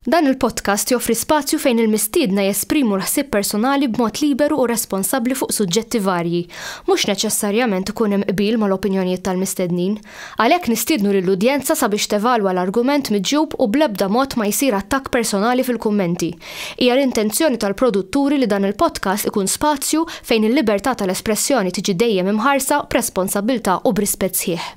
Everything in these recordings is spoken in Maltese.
Dan il-podcast joffri spazju fejn il-mistiedna jesprimu l-ħsieb personali b'mod liberu u responsabbli fuq suġġetti varji. Mhux neċessarjament ikun hemm qbil mal-opinjonijiet tal-mistednin. Għalhekk nistiednu lill-udjenza sabiex tevalwa l-argument miġjub u bl-ebda mod ma jsir attakk personali fil-kummenti. Hija l-intenzjoni tal-produtturi li dan il-podcast ikun spazju fejn il-libertà tal-espressjoni tiġi dejjem imħarsa b'responsabbiltà u b'rispett sħiħ.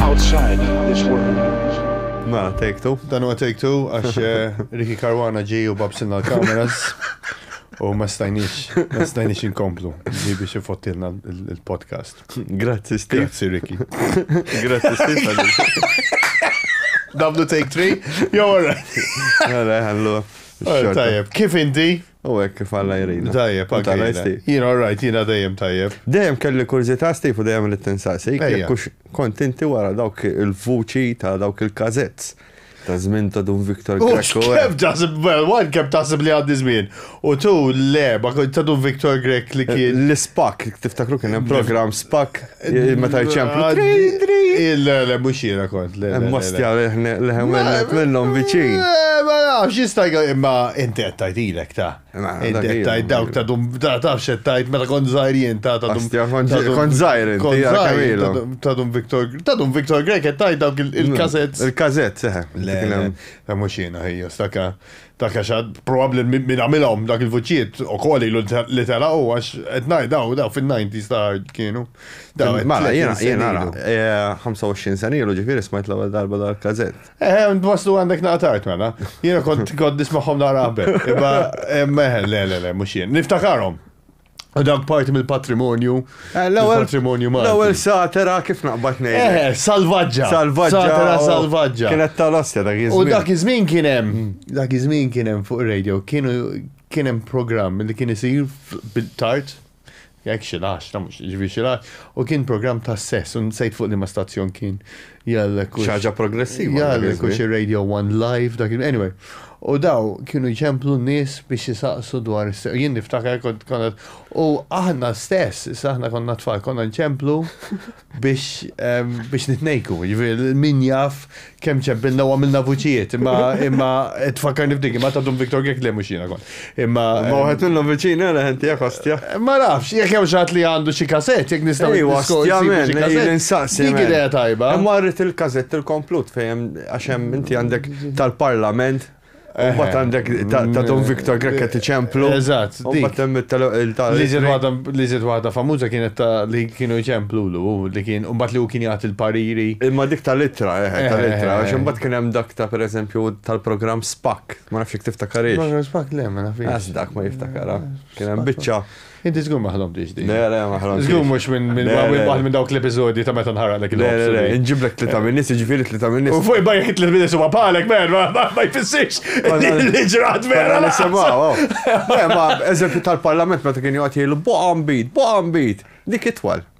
outside this world. Ma, take two. Dan huwa take two għax eh, Ricky Karwana ġi u babsilna l-kameras. U ma stajniex, ma stajniex inkomplu li biex ifottilna il-podcast. Grazzi, Steve. Grazzi, Ricky. Grazzi, Steve. Dablu take three? Jo, all right. All right, Tajjeb, kif inti? U hekk kif Alla jgħinna. Tajjeb, U tagħna anke jsti. jiena all right, jiena dejjem tajjeb. Dejjem kelli kurżità Steve u dejjem ridt insaqsik Ejja. jekk hux kont inti wara dawk il-vuċi ta' dawk il-każetts ta' żmien ta' Dun Victor U Grech u kemm taħseb, well, one kemm taħseb li għaddi żmien. U two, le, ma kont ta' Dun Victor Grech li kien. L-Ispak, tiftakru kien hemm programm Spak? Meta jċemplu. Le, le, mux jena kont. Mostja leħem għennet minnom biċin. Ma nafx, jista' imma inti qed tgħidilek ta'. Inti qed tgħid dawk ta' dum ta' tafx qed tgħid meta kont żgħir jien ta' ta' dum. Kont żgħir inti ta' dum Victor ta' dum Victor Grek qed tgħid dawk il-kazett. Il-kazett, seħe. Le, mhux jiena ħejja staka. Dak għax probabbli min għamilhom dak il-vuċijiet ukoll ilu li telaqgħu għax qed ngħid daw daw fin-90s ta' kienu. Mala jiena jiena 25 eh, sena ilu ġifieri smajt l-ewwel darba dal każett. Eh, waslu għandek naqtart mela. Jiena kont kont nismagħhom nara qabel. Imma eh, meħel le le le mhux jien. Niftakarhom. U dan parti mill-patrimonju. Eh, l-patrimonju ma. L-ewwel satera kif naqbad ngħid. Eh, eh, salvaġġa. Salvaġġa. Satera oh, salvaġġa. Kienet tal-ostja dak iż-żmien. U dak iż-żmien kien hemm, mm. dak iż-żmien kien hemm fuq radio, kienu kien hemm programm li kien isir bil-tard jekk xi lax, ta' mhux ġifi xi u kien programm ta' sess, u nsejt fuq li ma stazzjon kien. Jgħallek. Xaġa progressiva. Jgħallek u xi Radio One Live dak anyway. U daw kienu jċemplu n-nies biex jisaqsu dwar jien niftakar kont konna u aħna stess, issa aħna konna tfal, konna nċemplu biex biex nitnejku, jiġifieri min jaf kemm ċempilna u għamilna vuċijiet, imma imma tfakkarni f'dik, imma ta' Dum Viktor Gekk li mhux jiena kont. Imma. Ma wħed minnhom viċin għana ħenti jak ostja. Eh, ma nafx, jek hemm xatt li għandu xi kasett, jek nistaw. Ej, ostja men, insaqsi. Dik idea tajba. Imma rrit il-kazett il-komplut fejem għaxem inti għandek tal-parlament. Eh, Umbat għandek ta' eh, Don Victor Grekka ti ċemplu. Eżat, dik. Liżet waħda famuza kienet ta' li kienu ċemplu l li kien, umbat li u kien jgħat il-pariri. Imma dik tal-ittra, tal-ittra, għax umbat kien hemm dak ta' per eżempju tal-program Spak Ma nafx jek tiftakarix. Ma nafx bak le, ma nafx. Għas dak ma jiftakara. Kien hemm biċċa. Inti żgur ma ħlomtix din. Le, le, ma ħlomtix. Żgur mhux minn waħed minn dawk l-episodji ta' meta nħaraqlek il-ħobb. Le, le, inġiblek tlita minn nies, ġifieri tlita minn nies. U fuq bajk tlita minn nies huwa bħalek, mer, ma jfissirx li ġrat vera. Le, semgħu. Le, ma eżempju tal-parlament meta kien joqgħod jgħidu boqam bid, boqam bid. Dik itwal.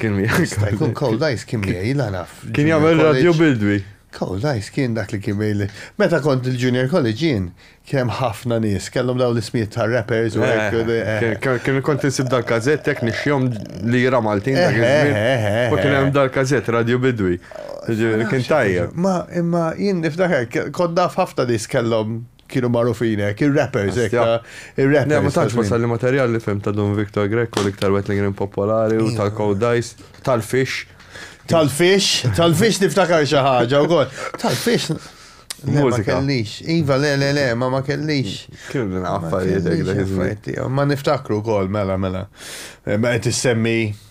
Kien miegħi. Jkun Cold Ice kien miegħi la naf. Kien jagħmel radju bildwi. Cold Ice kien dak li kien miegħi. Meta kont il-junior college jien kemm ħafna nies kellhom daw l-ismijiet ta' rappers u hekk. Eh, eh, eh. Kien kont insib dal-kazett tek nixjom li jira Maltin dak iż-żmien. U kien hemm dal-kazett radju bidwi. Kien tajjeb. Ma imma jien niftakar kont naf ħafna nies kellhom kienu magħrufin hekk, ir-rappers hekk. Astja. ta- Ir-rappers. Ne, ma ta' tantx żmien. wasal li materjal li fim ta' Dun Victor Greco l-iktar wet li kien popolari u tal-Codice, tal-Fish. Tal-fix, tal-fix niftakar xi ħaġa wkoll. Tal-fix. Le, ma Mużika. kellix. Iva, le, le, le, ma ma kellix. Kien din Ma affarijiet hekk kellix dak iż-żmien. affarijiet tiegħu. Ma niftakru wkoll, mela, mela. Eh, Ma qed issemmi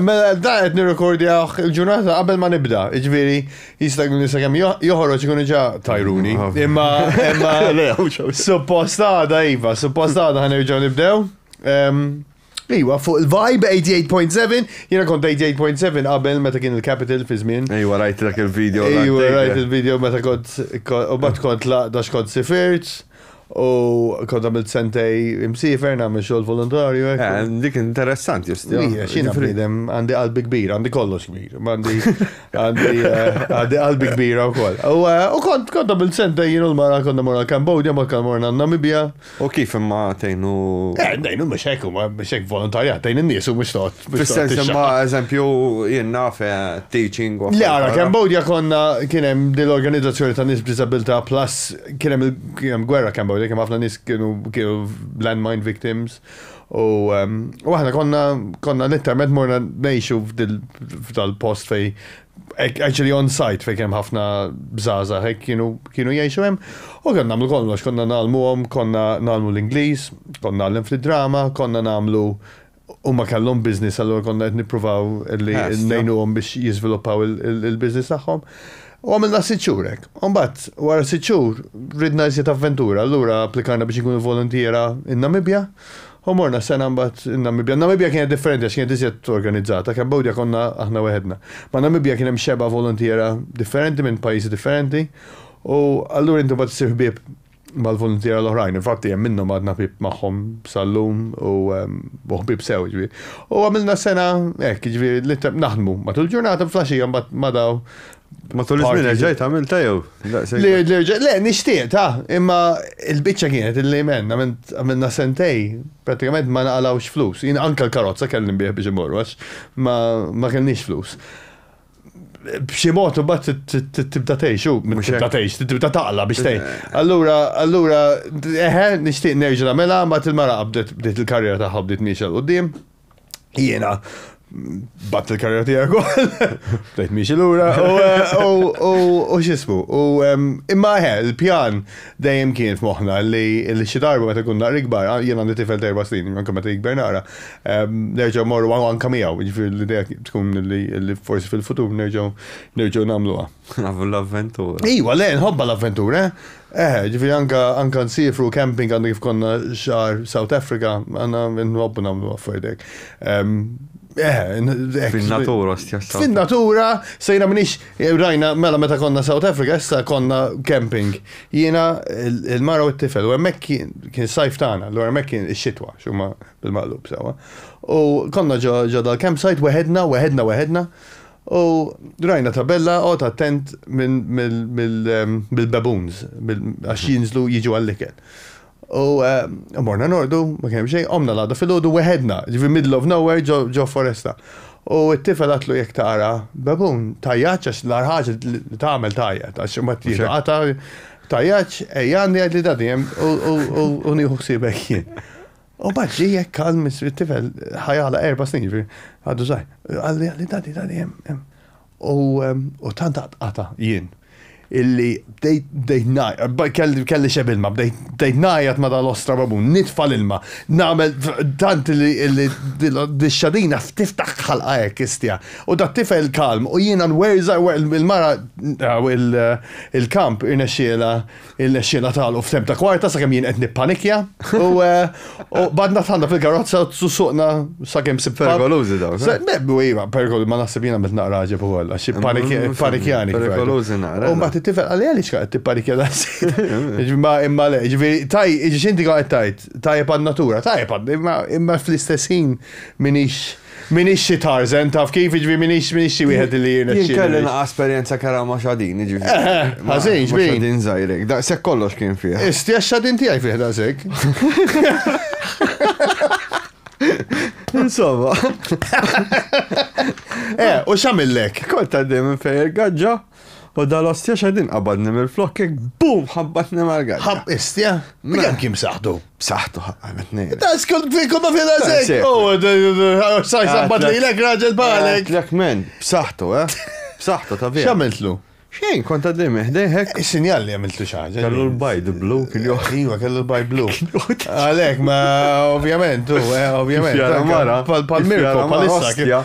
Mela dan qed nirrekordjawh il-ġurnata qabel ma nibda, jiġifieri jista' jkun li sakemm jo- joħroġ ikunu ġa tajruni. Imma imma Le, hawn xew. suppost għada iva, suppost għada ħanerġgħu nibdew. Em, Iwa, fuq il-vibe 88.7, jiena kont 88.7 qabel meta kien il-Capital fi żmien. Ejwa, rajt dak il-video. Ejwa, rajt il-video meta kont, ko- u bat kont laqda xkont sifirt. U kont għamilt sentej imsifer nagħmel xogħol volontarju hekk. Eh, dik interessanti just. Hija xina bniedem għandi qalbi kbira, għandi kollox kbir. Għandi għandi eh, għandi qalbi kbira wkoll. U eh, u kont kont għamilt sentej jien u l-mara konna morna Kambodja, ma konna morna Namibia. U kif imma tgħinu. Eh, nejnu mhux hekk huma mhux hekk volontarjat, tgħin in-nies u mhux toqgħod. mhux toqgħod Fis-sens tixxaq. imma eżempju jien naf eh, teaching u. Le, għara, Kambodja konna kienem dil-organizzazzjoni ta' nis b'disabilità plus Kien hemm il-kien gwerra kemm bawdek kemm ħafna nies kienu kienu landmine victims u ehm, u aħna konna konna letteralment morna ngħixu f'dal-post fej actually on site fej kemm ħafna bżaza hekk kienu kienu jgħixu hemm u kien nagħmlu kollox konna nagħlmuhom, konna nagħlmu l-Ingliż, konna nagħlem fid-drama, konna nagħmlu Huma kellhom business allura konna qed nippruvaw li ngħinuhom biex jiżviluppaw il-business tagħhom. U għamilna sitt xhur hekk. U mbagħad wara sitt xhur ridna iżjed avventura, allura applikajna biex inkunu voluntiera n-Namibja u morna sena mbagħad in-Namibja. Namibja kienet differenti għax kienet iżjed organizzata, Cambodia konna aħna weħedna. Ma' Namibja kien hemm xebgħa voluntiera differenti minn pajjiżi differenti u allura inti mbagħad issir ħbieb mal-voluntiera l-oħrajn. Infatti hemm minnhom għadna ħbieb magħhom sal-lum u ħbieb sew jiġifieri. U għamilna sena hekk jiġifieri li naħdmu matul ġurnata flaxija mbagħad ma daw. Matul iż-żmien reġgħet għamilt jew? Le, nixtieq ta' imma l-biċċa kienet li men għamilna sentej prattikament ma naqalgħux flus. Jien anke l-karozza kellim bih biex imorru għax ma kellniex flus. b'xi mod imbagħad tibda tgħix u tibda tgħix, tibda taqla biex tgħin. Allura, allura, eħe, nixtieq nerġa' nagħmilha, ma il-mara qabdet bdiet il-karriera tagħha bdiet miexel quddiem. Jiena bat il-karriera tiegħek ukoll. Bdejt miexi lura u x'ismu. U imma eħe, il-pjan dejjem kien f'moħħna li xi darba meta kun naqra ikbar, jiena għandi tifel terba' snin, anke meta jikber naqra, Nerġgħu morru anka miegħu, jiġifieri l-idea tkun li forsi fil-futur nerġgħu nerġgħu nagħmluha. Nafu l-avventura. Iwa, le, nħobba l-avventura. Eh, ġifieri anka anka nsifru camping għandu kif konna xahar South Africa, għandna nħobbu nagħmlu affarijiet Eh, Fin-natura stess. Fin-natura sejna minix Rajna, mela meta konna South Africa, issa konna camping. Jiena il-mara u t-tifel, u hemmhekk kien sajf tagħna, l hemmhekk kien ix-xitwa, xumma bil-maqlub sewa. U konna ġo dal-campsite weħedna, weħedna, weħedna. U rajna tabella qod attent mill-baboons, għax jinżlu jiġu għall-ikel. U morna nordu, ma kien hemm xejn, qomna l-għada filgħodu weħedna, ġifi middle of nowhere ġo foresta. U t-tifel għatlu jekk tara babun, tajjaċ għax l-għar ħaġa li tagħmel tgħajjat għax imbagħad tieħdu qatgħa, tajjaċ, ejja għandi għid li dadi hemm u nieħu ħsiebek jien. U mbagħad ġie hekk kalm it-tifel ħajala erba' snin ġifieri għadu żgħir. Qalli dadi dadi hemm hemm. U tant għatqata jien illi bdejt najqat, kelli xeb ilma, bdejt najqat ma dal-ostra babun, nitfa l-ilma, namel tant li d-xadina tiftaħ ħalqa hekk istja. U da tifel kalm u jiena nwerza il-mara il-kamp irnexxiela Irnexxielna tagħlqu f'temp ta' kwarta sakemm jien qed nippanikja u eh, badna tħanna fil-karozza u suqna sakemm sib. Perikolużi dawn. Mebbu iva, perikolużi ma naħseb jiena met naqra ġeb ukoll għax panikjani. Perikolużi naqra. U mbagħad it-tifel għalli għaliex qed tippanikja dan Imma imma le, ġifieri taj, ġinti qed tajt, tajjeb għan-natura, tajjeb imma fl-istess ħin minix M'iniex xi Tarzan, taf kif, jiġifieri m'iniex m'iniex xi wieħed li jirnexxielu. Jien kelli naqa' esperjenza kera ma' xadin, jiġifieri. Eh, eh, ħażin, xbin. Xadin żgħirek, daqshekk kollox kien fih. Isti għax xadin tiegħi fih daqshekk. Insomma. Eh, u x'għamillek? Kont għaddej minn fejn il-gaġġa. U dal-ostja xedin qabadni mill-flok kek bum ħabbatni mal-għadda. Ħab istja? Mela. Kem kim saħtu? Saħtu ħabbat nejn. Ta' skont fi kumma fi razek. Oh, saj sabbat li l-ek raġel balek. Lek men, b'saħtu, eh? B'saħtu ta' vera. Xamiltlu? Xejn, kont għaddej meħdejħek. Is-sinjal li għamiltu xaġa. Kellu l-bajd blu, kien joħ. Iwa, kellu l-bajd blu. Għalek, ma ovvjament, u, eh, ovvjament. Pal-mirko, pal-issa,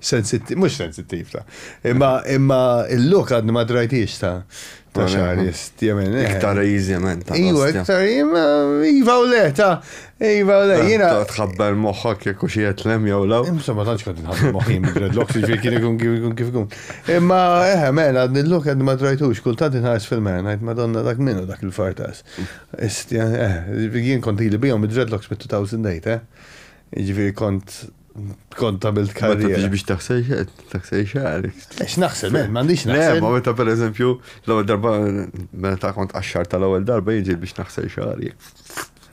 Sensittiv, mhux sensittiv ta. Imma imma il-luk għadni ma drajtix ta. Ta' xaris, jemen. Eh. Iktar jemen ta' Iva, iktar Iva u le ta' Iva u le, eh, jina. Tħabber moħħok jekk u xiet lem jew law. Imsa ma tantx kont nħabber moħħi dreadlocks jiġri kien ikun kif ikun kif ikun. Imma eħe, eh, men, għadni l-luk għadni ma drajtux, kultant inħares fil-men, għajt madonna dak minnu dak il-fartas. Istja, eħe, jien kont li bijom id-dreadlocks mit-2008, eh? Ġifieri kont kont għamilt karriera. Ma biex taħsel xed, taħsel xarik. Ex naħsel, men, mandiċ naħsel. Ma meta per eżempju, l-ewwel darba, meta kont għaxxar tal-ewwel darba jinġi biex naħsel xari.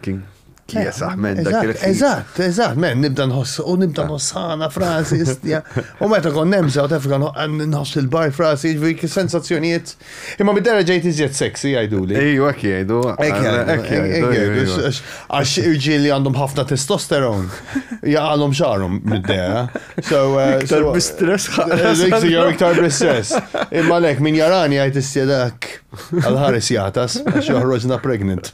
Kien kiesaħ men dak il Eżatt, eżatt, men, nibda nħoss, u nibda ah. nħossana frasi, istja. U meta kon nemża, u tefka nħoss il-bar frasi, ġviri sensazzjonijiet Imma bid-dera ġejt iżjed sexy jgħiduli. Ejju, hekk jgħidu. Hekk jgħidu. Għax irġieli għandhom ħafna testosteron. Jaqalhom xarhom bid-dera. Eh, iktar bistress ħaqqa. Jew iktar bistress. Imma lek min jarani jgħid is-sjedak għal-ħares jatas għax joħroġna pregnant.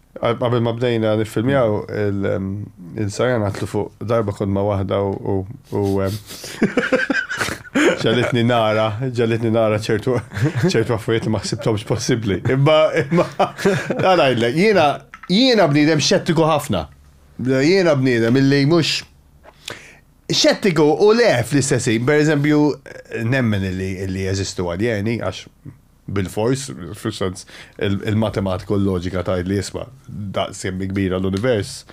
Qabel ma bdejna niffilmjaw il-sajja natlu fuq darba kont ma' waħda u ġalitni nara, ġalitni nara ċertu ċertu affarijiet li ma ħsibthomx possibbli. Imma imma ngħidlek, jiena jiena bniedem xettiku ħafna. Jiena bniedem illi mhux xettiku u le fl-istess ħin, pereżempju nemmen illi jeżistu aljeni għax Bilfors, fis-sens, il-matematika u l-loġika tgħid li isma', daqs kemm kbira l-univers,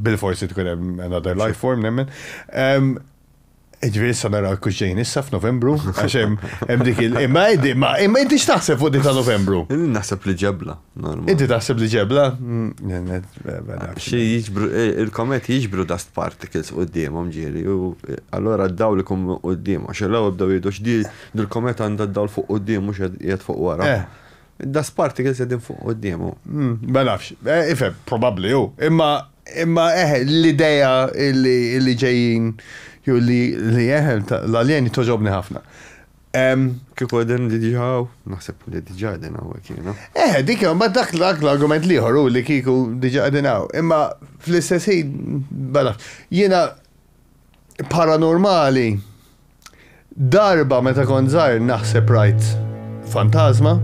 bilfors irid ikun hemm another life form nemmen. Ġifieri issa naraw kux ġejn issa f'Novembru, għax hemm dik il- imma imma inti x'taħseb fuq dik ta' Novembru? Naħseb li ġebla. Inti taħseb li ġebla? Xi jiġbru il-komet jiġbru dust particles quddiemhom ġieli u allura d-dawl ikun quddiemhom. Xi l-ewwel bdew jgħidu x'di Dil-komet għandha d-dawl fuq quddiem mhux qiegħed fuq wara. Eh. Id-dust particles qegħdin fuq quddiemu. Mm, ma nafx. Eh, ifhem, probabbli hu. Imma imma eh l-idea li li ġejjin jew li li eh l-aljeni toġobni ħafna. Em, Kif għedin li diġaw? Naħseb li diġa għedin għawek jena. Eh, dik jew ma dak dak l-argument liħor u li kiku diġa qegħdin hawn. Imma fl-istess ħin bala jiena paranormali Darba meta kont żgħir naħseb rajt fantażma,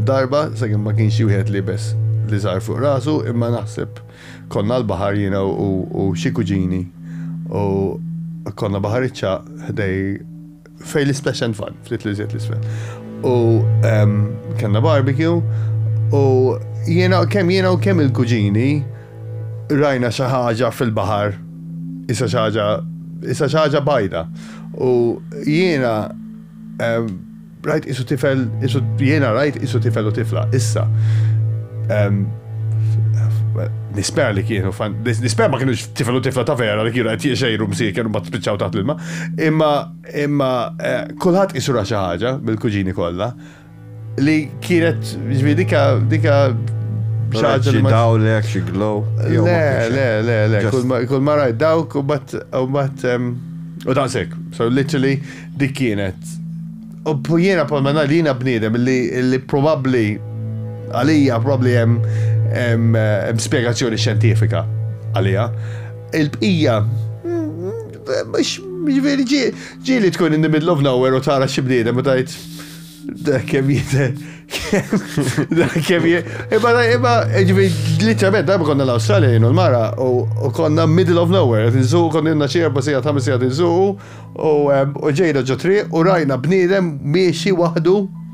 darba, sakemm ma kienx xi wieħed liebes li żgħar fuq rasu, imma naħseb konna l-baħar jiena u xi kuġini u konna baħariċċa ħdej fejn l-Isplash and Fun, ftit li żjed l-isfel. U kellna barbecue u jiena kemm jiena u kemm il-kuġini Rajna xi ħaġa fil-baħar, isha xi ħaġa, isha xi ħaġa bajda. U jiena rajt isu tifel, isu jiena rajt isu tifel u tifla, issa. Nisper li kienu, nisper ma kienu tifel u tifla ta' vera li kienu għet jiexejru msir, kienu bat spiċċaw taħt l-ilma, imma imma eh, kullħat isu ra xaħġa bil-kuġini kolla, Li kienet, ġvi, dika, dika xaġa. Xi daw li għak xi glow. Le, le, le, le, kull ma rajt dawk u bat, u bat, u daqsek. So literally dik kienet. U jiena pol ma li jiena bniedem li probabli għalija probabli hemm spiegazzjoni xjentifika għalija. Il-bqija, mux, mux verġi, Ġieli tkun in the middle of nowhere u tara xi bniedem u tajt da kemm jite. Da kemm Imma imma ġifi literalment darba konna l-Awstralja jienu l-mara u konna middle of nowhere qed insuq konna jenna xi erba' sigħat ħames sigħat insuqu u ġejna ġo triq u rajna bniedem miexi waħdu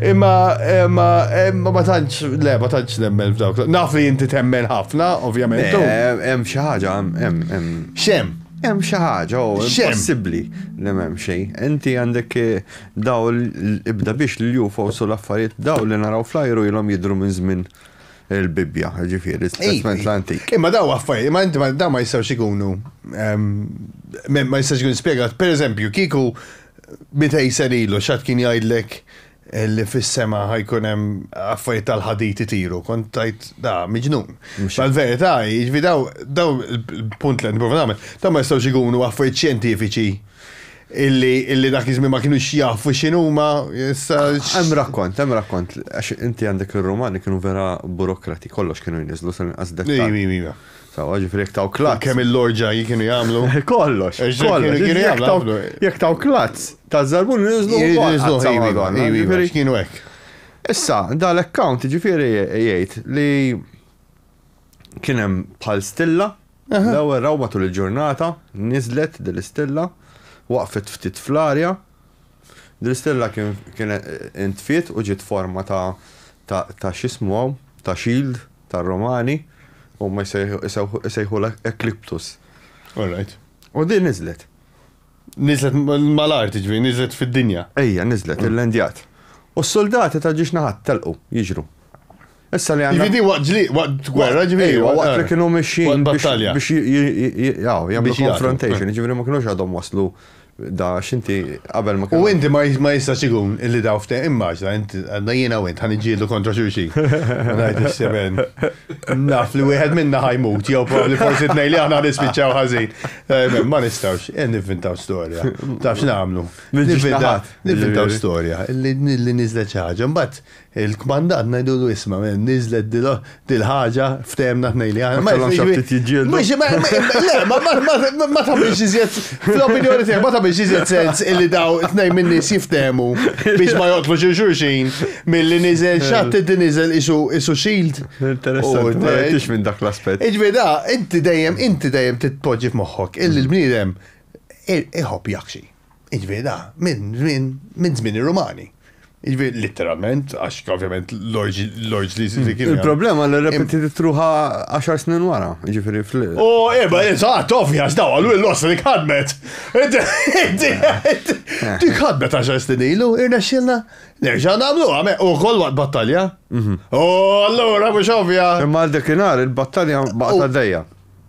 Imma, imma, imma ma tantx, le, ma tantx nemmen f'dawk. Naf li inti temmen ħafna, ovvjament. Hemm xi ħaġa, hemm, hemm. Xem? Hemm xi ħaġa, u possibbli li m'hemm xejn. Inti għandek eh, daw ibda biex li jufa u l-affarijiet daw li naraw flajru ilhom jidru minn żmien il-Bibbja, ġifieri, testament l-antik. Imma daw affarijiet, imma inti daw ma jistgħux ikunu ehm, ma jistgħux ikun spjegat. Pereżempju, kieku Mitej sen ilu x'ħadd kien jgħidlek li fis-sema ħajkun hemm affarijiet tal-ħadid itiru, kont tajt da miġnun. Mal-verità, jiġifieri daw daw il-punt li qed nipprova nagħmel, dawn ma jistgħux ikunu affarijiet xjentifiċi illi illi dak iż-żmien ma kinux jafu x'inhuma issa. Hemm rakkont, hemm rakkont għax inti għandek ir-Rumani kienu vera burokrati, kollox kienu jniżżlu sal-inqas dettall. Iva, iva, iva. Sawa, ġifri jek taw klazz. Kemm il-lorġa kienu jagħmlu? Kollox. Jek taw klazz, ta' zarbun nizlu. Nizlu ħajwi, kienu hekk. Issa, dal-account ġifiri jgħid li kienem bħal stilla, l-ewwel raw matul il-ġurnata, nizlet dil-istilla, waqfet ftit fl-arja, dil-istilla kien intfiet u ġiet forma ta' xismu ta' shield. tar-Romani, huma jsejħulha Ecliptus. All right. U din niżlet. Niżlet mal-art, ġifieri niżlet fid-dinja. Ejja, niżlet, illendjat. U s-suldati ta' ġiex naħat telqu, jiġru. Issa li għandna. Ġifieri waqt ġli, waqt gwerra, ġifieri. Waqt li kienu mixjin biex jagħmlu confrontation, ġifieri ma kienux għadhom waslu Da għax inti qabel ma kellhom. U inti ma ma jistax ikun illi daw fte immaġna int għandna jiena u int ħa niġġieldu kontra xulxin. Ma ngħidx semen. Naf li wieħed minna ħajmut jew probabbli forsi tnejn li aħna nispiċċaw ħażin. Eh, ma nistgħux eh, nivvintaw storja. Taf x'nagħmlu? Nivvintaw storja li niżlet xi ħaġa. Mbagħad Il-kmandant ngħidulu isma' niżlet dil-ħaġa ftehemna tnejn li aħna. Ma kellhom xi ftit jiġġieldu. Le, ma tagħmilx iżjed fl-opinjoni tiegħek ma tagħmilx iżjed sens illi daw tnejn min-nies jiftehmu biex ma joqtlu xi xulxin milli niżel xatt inti niżel isu shield. Interessanti, ma rajtix minn dak l-aspett. Iġbi da, inti dejjem inti dejjem titpoġġi f'moħħok illi l-bniedem iħobb jaħxi. Jiġifieri da minn żmien minn żmien ir-Rumani. Jiġifieri litteralment għax ovvjament l-orġli li kienu. Il-problema li repetitit ruħa 10 snin wara, jiġifieri fl. U eba, eżatt, ovvja, daw għallu l-ossa li ħadmet. Dik ħadmet 10 snin ilu, irna xilna, nerġa' nagħmlu għame u koll waqt battalja. U allura mhux ovvja. Imma għal dekinhar il-battalja baqgħet għaddejja.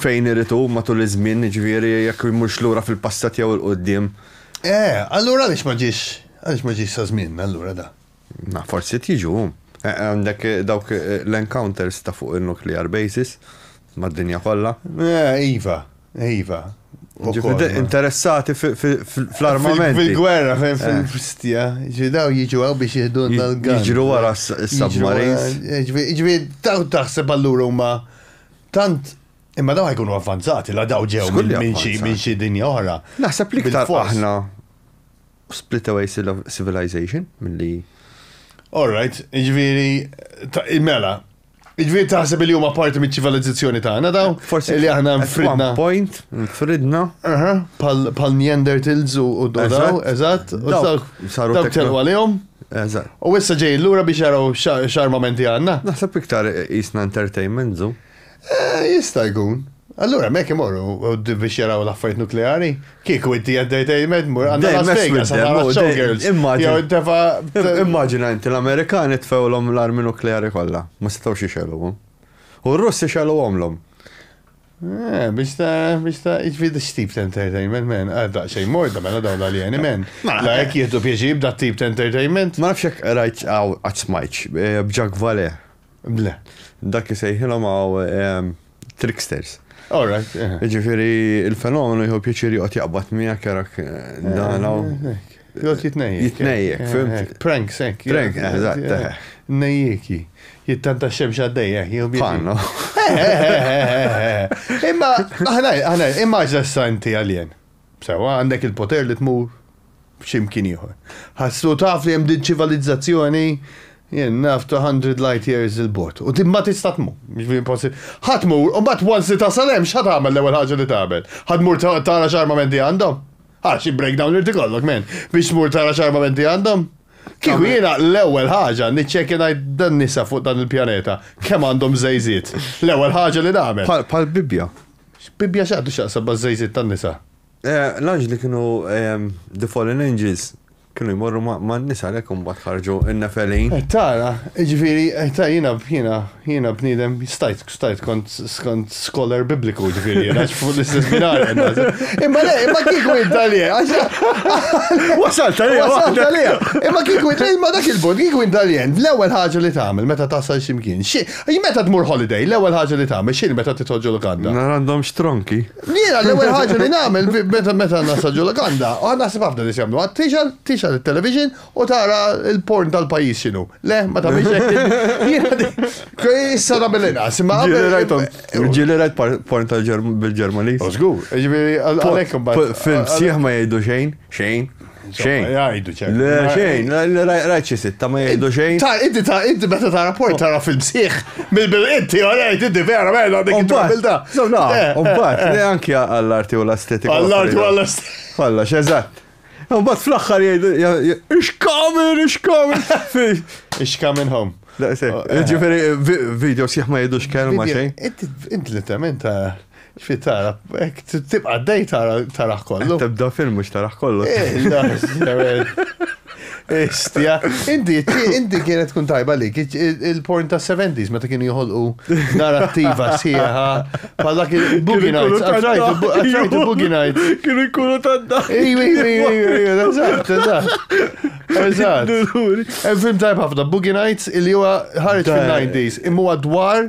Fejn irid hu, matul iż-żmien, jiġifieri jekk imurx lura fil-passat jew 'il quddiem. Eh, allura għaliex ma ġiex, għaliex ma ġiex sa żmienna allura da? Ma forsi qed jiġu hu. Għandek dawk l-encounters ta' fuq in-nuclear bases mad-dinja kollha. Eh, iva, iva. Jiġifieri interessati fl-armamenti. Fil-gwerra, fil-fstja. Jiġifieri daw jiġu hawn biex jihdulna l-guns. Jiġru wara s-submarines. Jiġifieri daw taħseb allura huma Tant Imma daw jkunu avvanzati, la daw ġew minn xi dinja oħra. Naħseb li ktar aħna split away civilization milli. All right, ġviri, mela, ġviri taħseb li huma parti mit ċivilizzazzjoni tagħna daw? Forsi li aħna fridna. Point, fridna. Pal Neanderthals u daw, eżatt, u saru telqu għalihom. Eżatt. U issa ġej lura biex jaraw x'armamenti għandna. Naħseb iktar jisna entertainment zu. Eh, jista' jkun. Allura mek imorru biex jaraw l-affarijiet nukleari. Kieku inti entertainment mur għandna Las Vegas għandna showgirls. Immaġina inti l-Amerikani tfewlhom l-armi nukleari kollha, ma setgħux ixelhom. U r-Russi xelhomlhom. Eh, biex ta' biex ta' iġvid x-tip ta' entertainment, men, għadda xej morda, mela dawn l-aljeni, men. Mela, la jek jihdu pieġi b'da tip ta' entertainment. Ma nafx jek rajt għaw għatsmajċ, eh, bġak vale. Ble. Dak jisejħilom għaw eh, tricksters. All right. Eh. Ġifiri, il-fenomenu jħu pieċiri għot jaqbat miegħek jarak dan għaw. Jgħot jitnejjek. Jitnejjek, eh, fimt. Eh, prank, sek. Prank, eżatt. Eh, Nejjiki. Jittanta xemx għaddejja, jgħu Fanno. Imma, aħna, aħna, immaġna s-santi għaljen. Sewa, għandek il-poter li tmur ximkien ieħor. Ħassu taf li hemm din ċivilizzazzjoni jien naf 200 light years il-bot. U timma tista' tmur. Ħatmur, u mbagħad once ta' salem x'ħad tagħmel l-ewwel ħaġa li tagħmel. Ħadmur tara x'armamenti għandhom. Għal xi breakdown li tikollok men, biex mur tara x'armamenti għandhom. Kieku jiena l-ewwel ħaġa niċċekkja ngħid dan nisa fuq dan il-pjaneta kemm għandhom żejżiet. L-ewwel ħaġa li nagħmel. Bħal Bibbja. Bibbja x'għandu x'jaqsam maż-żejżiet tan-nisa? L-anġli kienu the fallen angels. Kienu jmorru man-nisa għalhekk imbagħad ħarġu n-Nefelin. Tara, jiġifieri, ta' jiena jiena jiena bniedem stajt stajt kont kont scholar bibliku jiġifieri jiena fuq l-istess binar. Imma le, imma kieku int għalija. Wasalt għalija. Wasalt għalija. Imma kieku int imma dak il-punt kieku int għalija l-ewwel ħaġa li tagħmel meta tasal x'imkien. Xi meta tmur holiday l-ewwel ħaġa li tagħmel x'inhi meta titħoġġu lukanda? Nara għandhomx tronki. Jiena l-ewwel ħaġa li nagħmel meta meta nasal ġo Laganda, u għad naħseb ħafna nies jagħmluha, tixgħal tixgħal it-television u tara l-porn tal-pajjiż x'inhu. Le, ma tagħmilx hekk. Jiena di- Kej, Issa nagħmel inqas, imma Ġieli qabel- rajtom, ġieli rajt par- porn tal-Ġerm- bil-Ġermaniż. U żgur, ġifieri għal- għalhekk imbagħad. Fil-sieħ ma jgħidu xejn, xejn. Xejn. Jgħidu ċertu. Le, xejn, rajt xi sitta ma jgħidu xejn. Ta' inti ta' inti meta ta' rapport tara fil-bsieħ mill-bilqiet tiegħu jgħid inti vera vera dik il-ġabilta. Mbagħad, le anke għall-arti u l-estetika. Għall-arti u għall-estetika. Kolla, x'eżatt. Mbagħad fl-aħħar jgħidu ixkamin, ixkamin. Ixkamin home. Ġifieri video sieħ ma jgħidux kelma xejn. Inti literalment ta' Fi tara, ek tibqa d-dej tara kollu. Tibda film mux tara kollu. Istja, inti, inti kienet kun tajba li, il-porn ta' 70s meta kienu jħolqu narrativa sieħa, bħal dak il-Boogie Nights, għatrajt il-Boogie Nights. Kienu jkunu ta' dak. Iwi, iwi, iwi, eżatt, eżatt. Eżatt. Film tajba ħafna, Boogie Nights, il-li huwa ħarġ fil-90s, imma dwar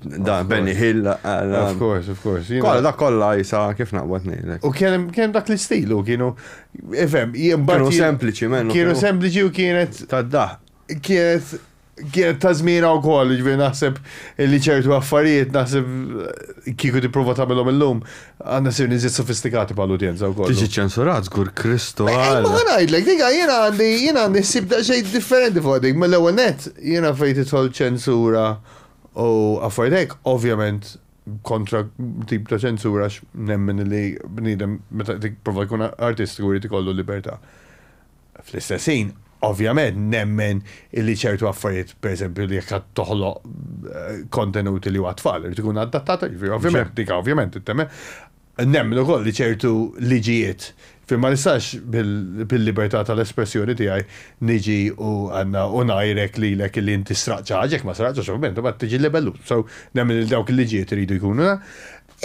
Da, Benny Hill. Of course, of course. Kolla, da kolla jisa kif naqbad nejlek. U kien kien dak l-istil u kienu, ifem, jimbarru. Kienu sempliċi, mennu. Kienu sempliċi u kienet. Tadda. Kienet, kienet ta' zmina u koll, ġviri naħseb li ċertu affarijiet naħseb kiku ti prova ta' mellom il-lum, għanna sir nizit sofistikati pa' l-udjenza u koll. Tiġi ċensurat, zgur Kristo. Ma għanajdlek, diga, jena għandi, jena għandi sib da' xej differenti fuq dik, mill-ewel net, jena fejti tħol ċensura. U affarijiet hekk, ovvjament kontra tip ta' ċensura għax nemmen li bniedem meta qed jipprova jkun artistiku jrid ikollu libertà. Fl-istess ħin, ovvjament nemmen illi ċertu affarijiet, pereżempju li jekk qed toħloq kontenut li hu għat-tfal irid ikun adattat, jiġifieri ovvjament dik ovvjament temmen. Nemmen ukoll li ċertu liġijiet fejn ma nistax bil-libertà tal-espressjoni tiegħi niġi u u ngħajrek lilek li inti sraqt xi ħaġa, jekk ma sraqtx għax ovvjament imbagħad tiġi libellut. So, nemmen li dawk il-liġijiet iridu jkunu.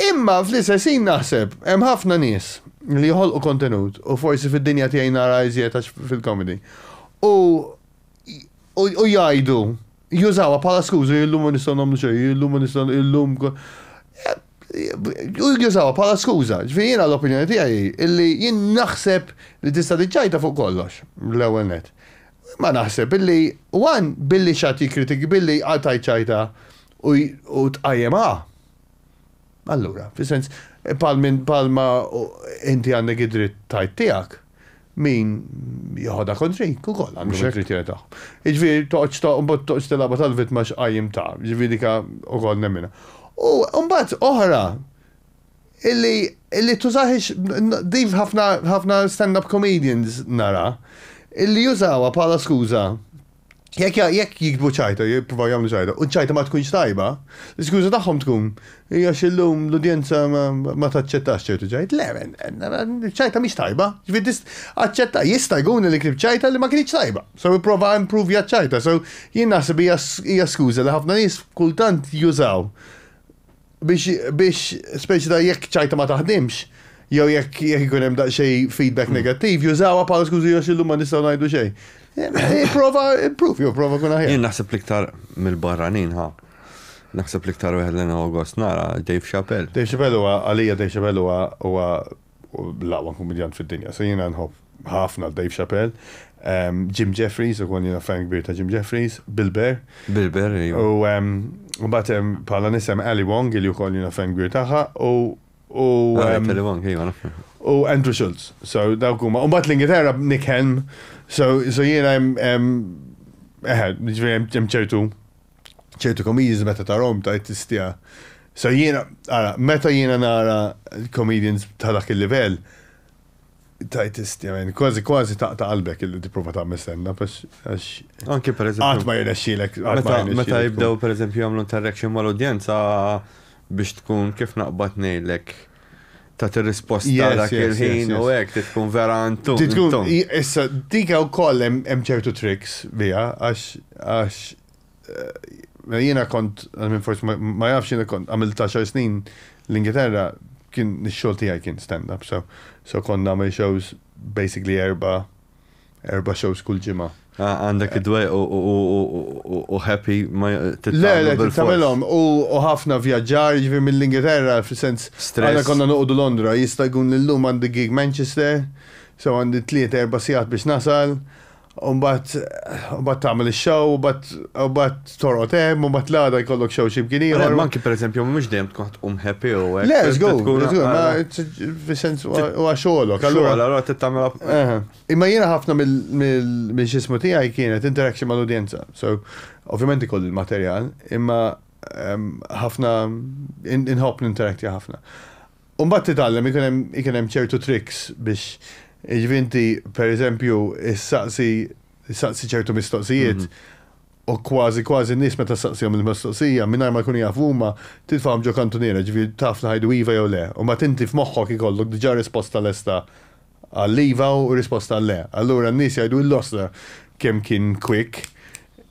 Imma fl-istess ħin naħseb hemm ħafna nies li joħolqu kontenut u forsi fid-dinja tiegħi nara iżjed għax fil-comedy u u jgħidu Jużawha bħala skuża, illum ma nistgħu nagħmlu xejn, illum ma nistgħu illum jużawha bħala skuża. Ġifieri jiena l-opinjoni tiegħi illi jien naħseb li tista' tiġġajta fuq kollox l-ewwel nett. Ma naħseb illi one billi x'għad jikkritik billi għal tgħid ċajta u tqajjem ha. Allura, fis-sens bħal minn bħal ma inti għandek id-dritt tgħid tiegħek. min jieħodha kontrejk ukoll għandhom Mhux hekk? il-kriterja tagħhom. Jiġifieri toqgħodx to mbagħad toqgħodx tilgħabha tal-vittma x'qajjim ta, jiġifieri dika ukoll nemminha. U mbagħad oħra illi illi tużahiex n- din f'ħafna ħafna stand-up comedians nara illi jużawha bħala skuża Jekk jekk jikdbu ċajta, jippruvaw jagħmlu ċajta, u ċajta ma tkunx tajba, l-iskuża tagħhom tkun hija xillum l-udjenza ma taċċettax ċertu ċajt. Le, ċajta mhix tajba. Ġifieri aċċetta jista' jkun li kif ċajta li ma kienx tajba. So ipprova improvja ċajta. So jien naħseb hija skuża li ħafna nies kultant jużaw Biex, biex, speċi ta' jekk ċajta ma taħdimx, jew jekk jekk ikun hemm daqsxej feedback mm. negattiv, jużawha bħala skużi għax illum ma nistgħu ngħidu xejn. Eh, prova improve, jew prova kun aħjar. Jien naħseb l-iktar mill-barranin ha. Naħseb l-iktar wieħed l August nara Dave Chappelle. Dave Chappelle huwa għalija Dave Chappelle huwa Hu l-aqwa kumedjant fid-dinja. So jiena nħobb ħafna Dave Chappelle. Ehm, Jim Jeffries, ukoll jiena fan kbir ta' Jim Jeffries. Bill Burr. Bill Burr, iva. U ehm, mbagħad hemm bħala nies hemm Ali Wong li wkoll jiena fan kbir tagħha u u Ah, ehm, Ali Wong, iva, naf. u Andrew Schultz. So dawk huma. U mbagħad l-Ingilterra Nick Helm. So so jiena hemm hemm eħe, jiġifieri hemm hemm ċertu ċertu comedians meta tarahom tgħid tistja. So jiena, ara, meta jiena nara comedians ta' dak il-livell, tgħid tistja, men, kważi kważi taqta' qalbek illi tipprova tagħmel stand up għax. Anke per eżempju. Qatt ma jirnexxielek. Meta jibdew per eżempju jagħmlu interaction mal-udjenza biex tkun kif naqbad ngħidlek. tat ir-risposta Yes, dak yes, yes, il-ħin yes. u hekk trid tkun vera antum. Trid tkun- antum. i- Issa, dika wkoll hemm hemm ċertu tricks biha għax għax eh, jiena kont għal minn forsi ma- ma jafx jiena kont għamilt 10 snin l-Ingilterra kien ix-xogħol tiegħi kien stand-up so so kont nagħmel shows basically erba' erba shows kull ġimgħa. Ah, għandek id-dwe u happy ma tittamilhom. Le, tittamilhom u ħafna vjaġġar ġifi mill-Ingilterra fil-sens. Għana konna nuqdu Londra, jista' jkun l-lum għandi gig Manchester, so għandi tliet erba sigħat biex nasal, u mbagħad tagħmel ix-show, u mbagħad Torqod hemm u mbagħad l-għada jkollok xew xi bkien ieħor. Ma anki pereżempju mhux dejjem tkun qed tqum happy u hekk. Le, żgur, fis-sens huwa xogħolok. Allura allura tittamela. Imma jiena ħafna minn xismu tiegħi kienet interaction mal-udjenza. So, ovvjament ikoll il-materjal, imma ħafna inħobb ninterakti ħafna. Umbat titgħallem ikun hemm ċertu tricks biex iġvinti, per eżempju, issaqsi ċertu mistoqsijiet U kważi kważi n-nies meta ssaqsihom il-mistoqsija, mingħajr ma jkunu jafu huma, titfagħhom ġo kantuniera, jiġifieri taf li ħajdu iva jew le. U mbagħad inti f'moħħok ikollok diġà risposta lesta għall-iva u risposta għall-le. Allura n-nies jgħidu illosta kemm kien quick.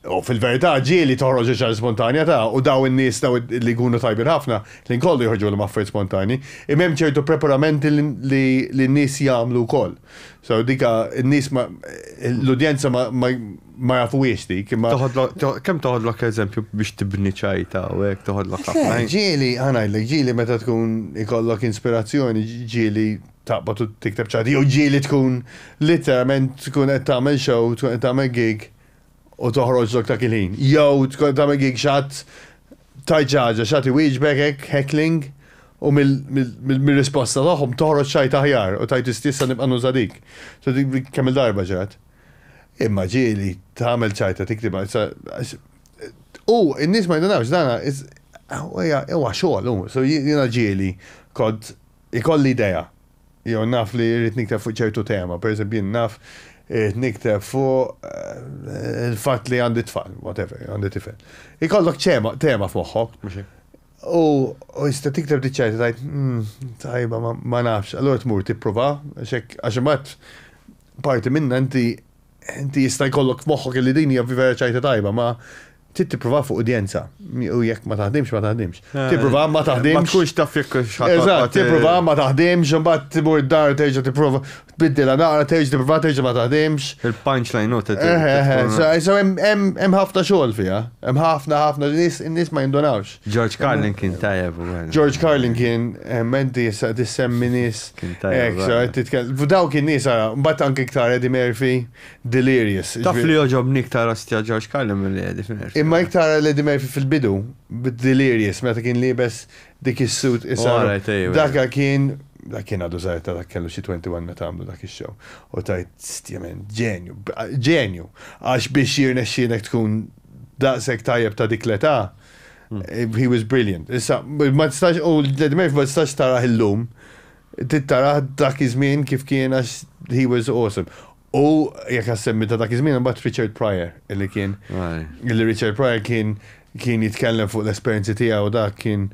U fil-verità ġieli toħroġ iċ-ċar l-ispontanjatà u daw in-nies daw li jkunu tajbin ħafna, ħin kollu joħorġulhom affarijiet spontanji. Imma hemm ċertu preparamenti li li n-nies jagħmlu wkoll. So dik in-nies ma l-udjenza ma ma jafuhiex dik imma. Toħodlok kemm toħodlok eżempju biex tibni ċajta u hekk toħodlok ħafna. Ġieli ħa ngħidlek, ġieli meta tkun ikollok inspirazzjoni, ġieli taqbad u tikteb ċajta jew ġieli tkun litteralment tkun qed tagħmel show, tkun qed tagħmel gig u toħroġ lok dak il-ħin. Jew tkun qed tagħmel gig xi ħadd tgħid xi ħaġa, xi ħadd iwieġbek hekk heckling u mir-risposta tagħhom toħroġ tgħid aħjar u tgħid issa nibqa' nuża dik. Kemm-il darba ġrat. Imma ġieli tagħmel ċajta tiktibha u n-nies ma jindunawx dana huwa xogħol hu. So jiena ġieli kont ikolli idea Jew naf li rrid nikteb fuq ċertu tema. Per eżempju, jien naf irrid nikteb fuq il-fatt li għandi tfal, whatever, għandi tifel. Ikollok ċema, tema f'moħħok. U tista' tikteb dik ċajta tgħid, mm, tajba, ma nafx. Allura tmur tipprova, għax hekk, għax imbagħad parti minnha inti Inti jista' jkollok f'moħħok illi din hija vera ċajta tajba, ma trid tipprova fuq udjenza. U jekk ma taħdimx, ma taħdimx. Eh, tipprova ma taħdimx. Ma tkunx taf jekk x'ħadd. Tipprova ma taħdimx, imbagħad timur dar terġa' tipprova tbiddilha naqra, terġa' tipprova terġa' ma taħdimx. Il-punchline note. Eh, eh, hemm ħafna xogħol fiha. Hemm ħafna ħafna nies in-nies ma jindunawx. George Carlin kien tajjeb. George Carlin kien menti jissa tissemmi nis. Kien tajjeb. Daw kien nis għara, bat anki ktar Eddie Murphy, Delirious. Taf li joġobni ktar ostja George Carlin mill Eddie Murphy. Imma iktar Eddie Murphy fil-bidu, Delirious, meta kien libes dik is-suit issa. Daka kien dak kien għadu zaħir ta' dak kellu xi 21 meta għamlu dak ix-show. U tajt stjemen, ġenju, ġenju. Għax biex jirnexxienek tkun daqshekk tajjeb ta' dik l-età, he was brilliant. Issa, ma tistax, u l-Led Murphy ma tistax taraħ illum, tittaraħ dak iż-żmien kif kien għax he was awesome. U jekk għassemmi ta' dak iż-żmien, mbagħad Richard Pryor, illi kien, illi Richard Pryor kien kien jitkellem fuq l-esperjenzi tiegħu dak kien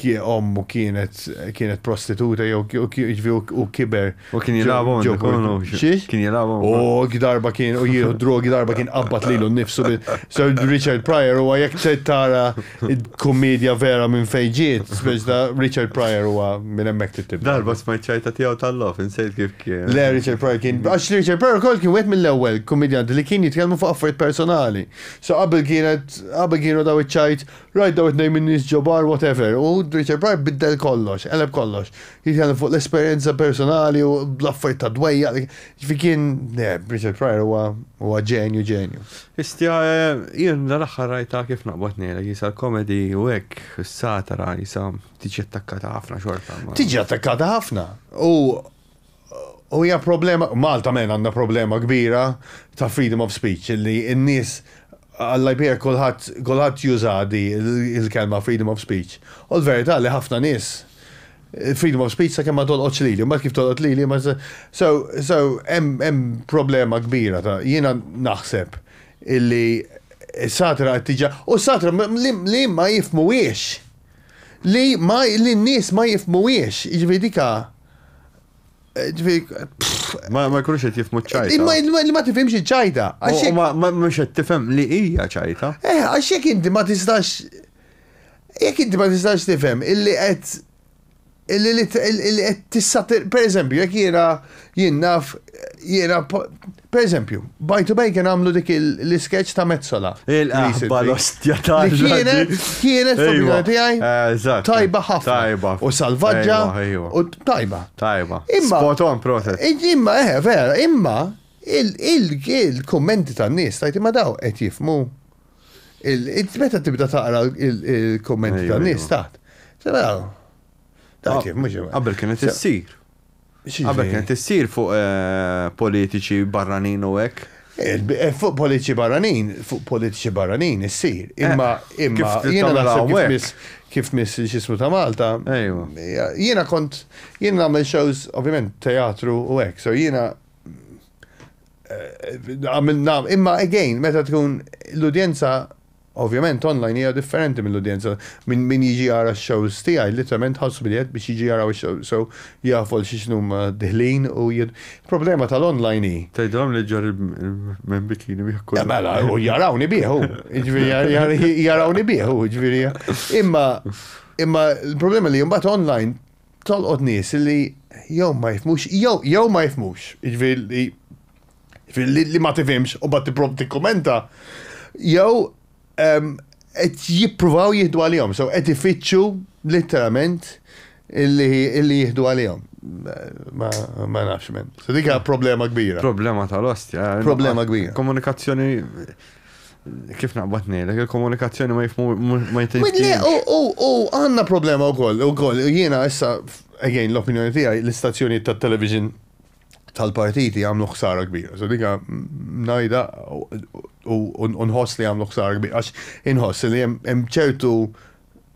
ommu kienet kienet prostituta jew jiġifieri u kiber. U kien jilagħbu ġo kollu. Xiex? Kien jilagħbu. U darba kien u jieħu drogi darba kien qabad lilu nnifsu bil. So Richard Pryor huwa jekk se tara kummedja vera minn fejn ġiet, speċ ta' Richard Pryor huwa minn hemmhekk titib. Darba smajt ċajta tiegħu tal-lof, insejt kif kien. Le Richard Pryor kien għax Richard Pryor ukoll kien wieħed mill-ewwel kummedjanti li kien jitkellmu fuq affarijiet personali. So qabel kienet qabel kienu daw iċ-ċajt Rajt dawn it-tnejn min-nies ġo bar whatever u Richard Pryor biddel kollox, qeleb kollox. Jitkellem fuq l-esperjenza personali u l-affarijiet tad-dwejjaq li Jiġifieri kien le, Richard Pryor huwa huwa ġenju ġenju. Histja jien dal-aħħar rajtha kif naqbad ngħidlek qisha l-comedy u hekk is-satira qisha tiġi attakkata ħafna xorta ma. Tiġi attakkata ħafna u U hija problema, Malta men għandna problema kbira ta' freedom of speech, li n-nies Alla jbierek kulħadd juża di l-kelma freedom of speech. U l-verità li ħafna nies freedom of speech sakemm ma tolqotx lili, mbagħad kif tolqot lili ma so so hemm problema kbira ta' jiena naħseb illi s-satra qed tiġa u s-satra li ma jifhmuhiex li ma li n-nies ma jifhmuhiex, jiġifieri dika Ma ma jkunux qed jifmu ċajta. Imma li ma tifhimx iċ-ċajta. Ma mhux qed tifhem li hija ċajta. Eh, għax jekk inti ma tistax jekk inti ma tistax tifhem illi qed illi qed tissatir, per eżempju, jekk jiena jien naf jiena Per eżempju, By to Bacon għamlu dik l-iskeċ ta' Mezzola. Il-qahba l-ostja ta' Kienet, kienet fil tiegħi. Eh, tajba ħafna. Tajba. U salvaġġa. U tajba. Tajba. Imma. Spoton proset. Imma, eh, vera, imma il-kommenti tan-nies tajt imma daw qed jifmu. Meta tibda taqra il-kommenti tan-nies taħt. Sena, Għabel kienet issir. Qabel kienet issir fuq politiċi barranin u hekk. Fuq politiċi barranin, fuq politiċi barranin issir. Imma imma jiena naħseb kif miss x'ismu ta' Malta. Jiena kont jien nagħmel shows ovvjament teatru u hekk. So jiena imma again meta tkun l-udjenza Ovvjament online hija differenti mill-udjenza. Min min jiġi jara x-shows tiegħi literalment ħarsu bil-jedd biex jiġu jaraw ix-shows so jafu għal xi x'inhuma diħlin u jien Il-problema tal-online hi. Tgħidilhom li ġġorr il-men bikini bih kull. Mela u jarawni bih hu. Jiġifieri jarawni bih hu jiġifieri. Imma imma l-problema li imbagħad online tolqot nies li jew ma jifhmux jew jew ma jifhmux. Jiġifieri li li ma tifimx u bat tipprov tikkumenta, jew qed jippruvaw jieħdu għalihom, so qed ifittxu literalment illi jieħdu għalihom. Ma nafx men. So dik problema kbira. Problema tal-ostja. Eh, problema kbira. Komunikazzjoni kif naqbad nejlek, il-komunikazzjoni ma jifmu ma jtejjeb. U għanna problema u koll, u koll, jiena issa, again, l-opinjoni tijaj, l-istazzjoni ta' television tal-partiti għamlu ħsara kbira. So dika najda u nħoss li għamlu ħsara kbira. Għax inħoss li hemm ċertu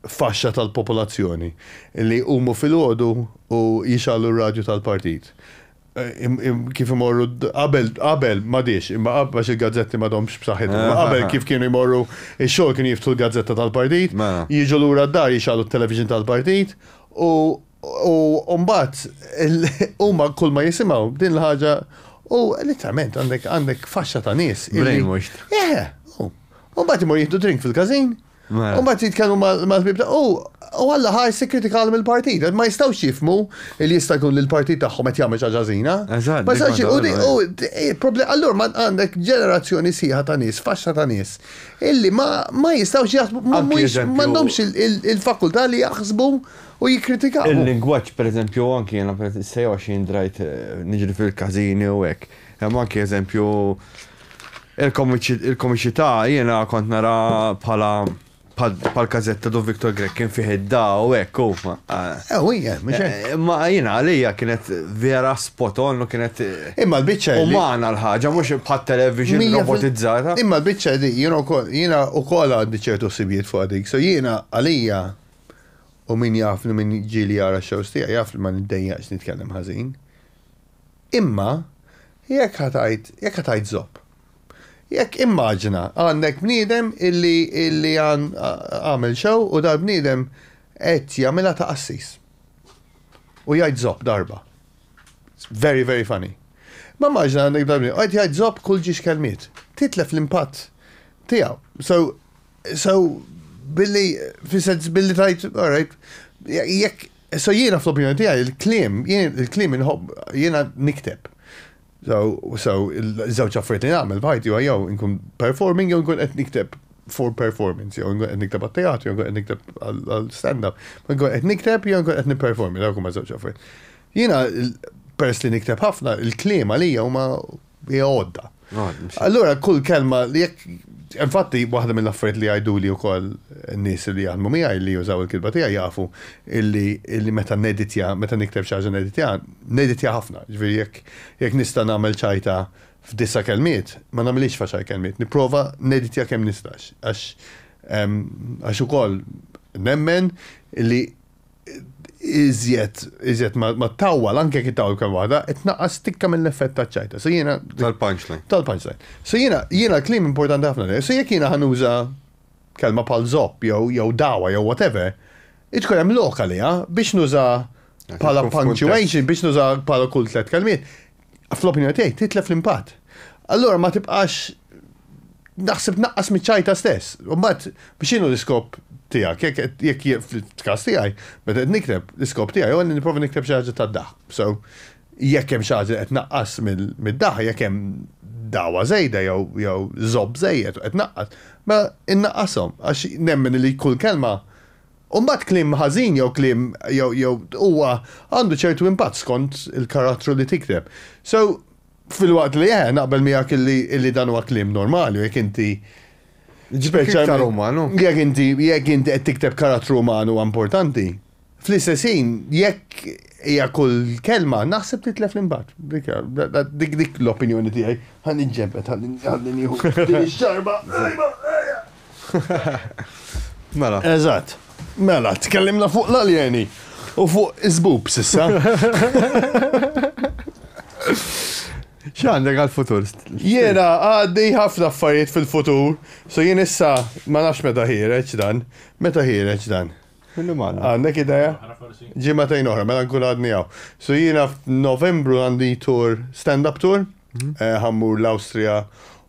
faxxa tal-popolazzjoni li umu fil-ħodu u jixallu r-radju tal-partit. Kif imorru, qabel, qabel, ma diex, imma għax il-gazzetti ma domx b'saħħit. Qabel kif kienu jmorru, il-xol kienu jiftu l-gazzetta tal-partit, mela. jiġu l-ura d-dar jixallu t-television tal-partit u U mbagħad huma kull ma jisimgħu din l-ħaġa u literalment għandek għandek faxxa ta' nies. Brainwashed. Eh, u mbagħad imur jieħdu drink fil-każin. Mela. U mbagħad jitkellmu mal-ħbib ta' u u għalla ħaj sikritikal mill-partit. Ma jistgħux jifmu li jista' jkun li l-partit tagħhom qed jagħmel xi ħaġa żina. Eżatt, Ma jistgħux dik u di- waħda u di- eh, proble- allura ma għandek ġenerazzjoni sieħa ta' nies, faxxa ta' nies, illi ma ma jistgħux jaħsbu, ma Anki mhuwiex- eżempju- m'għandhomx il- il- il-fakultà li jaħsbu u jikkritikaw. Il-lingwaġġ pereżempju u anki jiena sejħu għax jien drajt niġri fil-każini u hekk. Hemm anki eżempju il-komiċità jiena kont nara bħala bħall-każetta dove Victor Grech kien fih id-da u hekk u. Ew hija, mhux hekk. Ma jiena għalija kienet vera spot on u kienet. Imma l-biċċa. Umana l-ħaġa mhux bħat-television robotizzata. Imma l-biċċa di jiena wkoll għandi ċertu sibijiet fuq dik. So jiena għalija U min jafni, min ġieli jara x-shows tiegħi jaf li ma niddejjaqx nitkellem ħażin. Imma jekk ħa tgħid, jekk ħa tgħid żopp. Jekk immaġina għandek bniedem illi illi għamel show u dal-bniedem qed jagħmilha ta' qassis. U jgħid żopp darba. Very, very funny. Ma immaġina għandek dal-bniedem, qed jgħid żopp kull ġiex kelmiet. Titlef l-impatt tiegħu. So, So, billi, fissens billi tajt, alright, jekk, so jiena fl-opinjoni tijaj, il-klim, il-klim inħobb, jiena nikteb. So, so, il-żewġ affarijiet li nagħmel f'ħajti huwa jew inkun performing jew inkun qed nikteb for performance, jew inkun qed nikteb għat-teatru, jew inkun qed nikteb għal-stand-up, jew inkun qed nikteb jew inkun qed nipperformi, dawk huma żewġ affarijiet. Jiena peress li nikteb ħafna, il-kliem għalija huma hija għodda. Allura kull kelma li jekk Infatti, waħda mill-affarijiet li għajdu li wkoll nies li jaħdmu miegħi li jużaw il-kilba tiegħi jafu illi meta neditja, meta nikteb xi ħaġa neditja, neditja ħafna. Ġifieri jekk jekk nista' nagħmel ċajta f'disa kelmiet, ma nagħmilix faċaj kelmiet, nipprova neditja kemm nistax. Għax għax ukoll nemmen li iżjed, iżjed ma tawwal, anke jekk tawwal kemm waħda, qed naqqas tikka mill-effett taċ-ċajta. So jiena. Tal-punchline. Tal-punchline. So jiena, jiena l-klim importanti ħafna li. So jekk jiena ħanuża kelma pal zopp jew jew dawa jew whatever, itkun hemm lokali biex nuża bħala punctuation, biex nuża bħala kull tliet kelmiet. fl-opinjoni tiegħi titlef l-impatt. Allura ma tibqax naħseb naqqas miċ-ċajta stess. U mbagħad biex inhu l-iskop tiegħek, jekk jekk jekk fil-każ tiegħi, meta qed nikteb, l-iskop tiegħi huwa li nipprova nikteb xi ħaġa tad-daħq. So, jekk hemm xi ħaġa li qed tnaqqas mid-daħq, jekk hemm dagħwa żejda jew jew żopp żejjed u qed tnaqqas, mela innaqqashom għax nemmen li kull kelma U mbagħad kliem ħażin jew kliem jew jew huwa għandu ċertu impatt skont il-karattru li tikteb. So, filwaqt li eh, naqbel miegħek illi illi dan huwa kliem normali u jekk inti Jiġifieri iktar umanu. Jekk inti jekk inti qed tikteb karattru uman huwa importanti. Fl-istess ħin, jekk hija kull kelma, naħseb titlef l-impatt. Dik hija dik dik l-opinjoni tiegħi. Ħa niġġenbed ħalli ħalli nieħu din ix-xarba. Mela. Eżatt. Mela, tkellimna fuq l-aljeni u fuq iżbub sissa. X'għandek għal-futur? Jiena għaddi ħafna affarijiet fil-futur, so jien issa ma nafx meta ħireġ dan. Meta ħireġ dan? Għandek ideja? Ġimma tajn oħra, mela nkun għadni għaw. So jiena f'Novembru għandi tour, stand-up tour, mhm. eh, ħammur l-Austria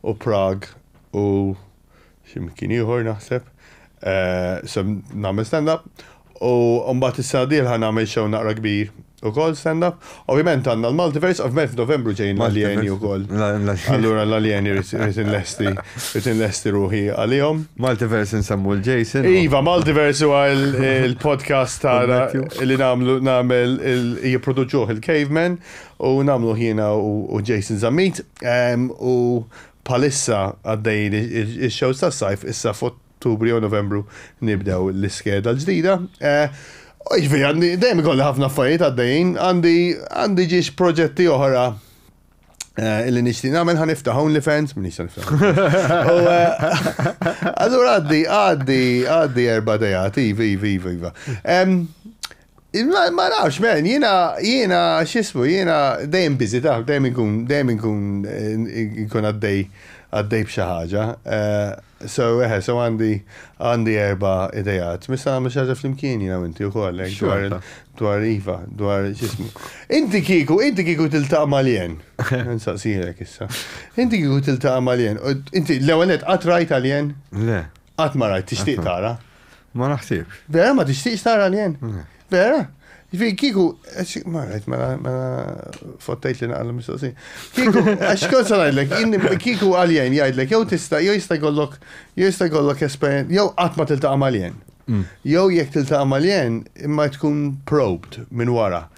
u Prague u xi mkien ieħor naħseb. Se nagħmel stand-up u mbagħad is-sena d-dieħla nagħmel show naqra kbir ukoll stand-up. Ovvjament għandna l-Multiverse, ovvjament f'Novembru ġejjin l-Aljeni wkoll. Allura l-Aljeni rrid inlesti, rrid inlesti ruħi għalihom. Multiverse insemmu lil Jason. Iva, Multiverse huwa l-podcast tagħna li nagħmlu nagħmel jipproduċuh il-Caveman u nagħmluh jiena u Jason Zammit. U Bħalissa għaddejjin ix-shows tas-sajf, issa f'Ottubru jew Novembru nibdew l-iskeda l-ġdida. Jiġifieri għandi dejjem ikolli ħafna affarijiet għaddejjin, għandi għandi ġiex proġetti oħra li nixtieq nagħmel ħa niftaħ OnlyFans, minix se niftaħ. Allura għaddi għaddi għaddi erba' dejat, iva iva iva iva. Ma nafx, men, jina, jina, xismu, jina dejjem bizi, taf, dejjem ikun, dejjem ikun, ikun għaddej, għaddej bxaħġa. Eh, so, eħe, so għandi, għandi erba idejat. Misa għamil xaġa fl-imkien jina minti u koll, eh, dwar, dwar Iva, dwar xismu. Inti kiku, inti kiku tiltaq maljen. Nsaqsirek issa. Inti kiku tiltaq maljen. Inti l-ewenet għatrajt għaljen? Le. Qatt ma rajt tixtieq tara. Ma naħsib. Vera ma tixtieqx tara l-jen? Mm. Vera? Fi kiku, ma rajt, mela, mela fottajt li naqal mistoqsi. Kiku, għax kol salajdlek, kiku għaljen jgħidlek, jow tista, jow jista jkollok, jow jista jkollok esperienza, jow għatma tiltaqa maljen. Mm. Jow jek tiltaqa maljen, imma tkun probed minn wara.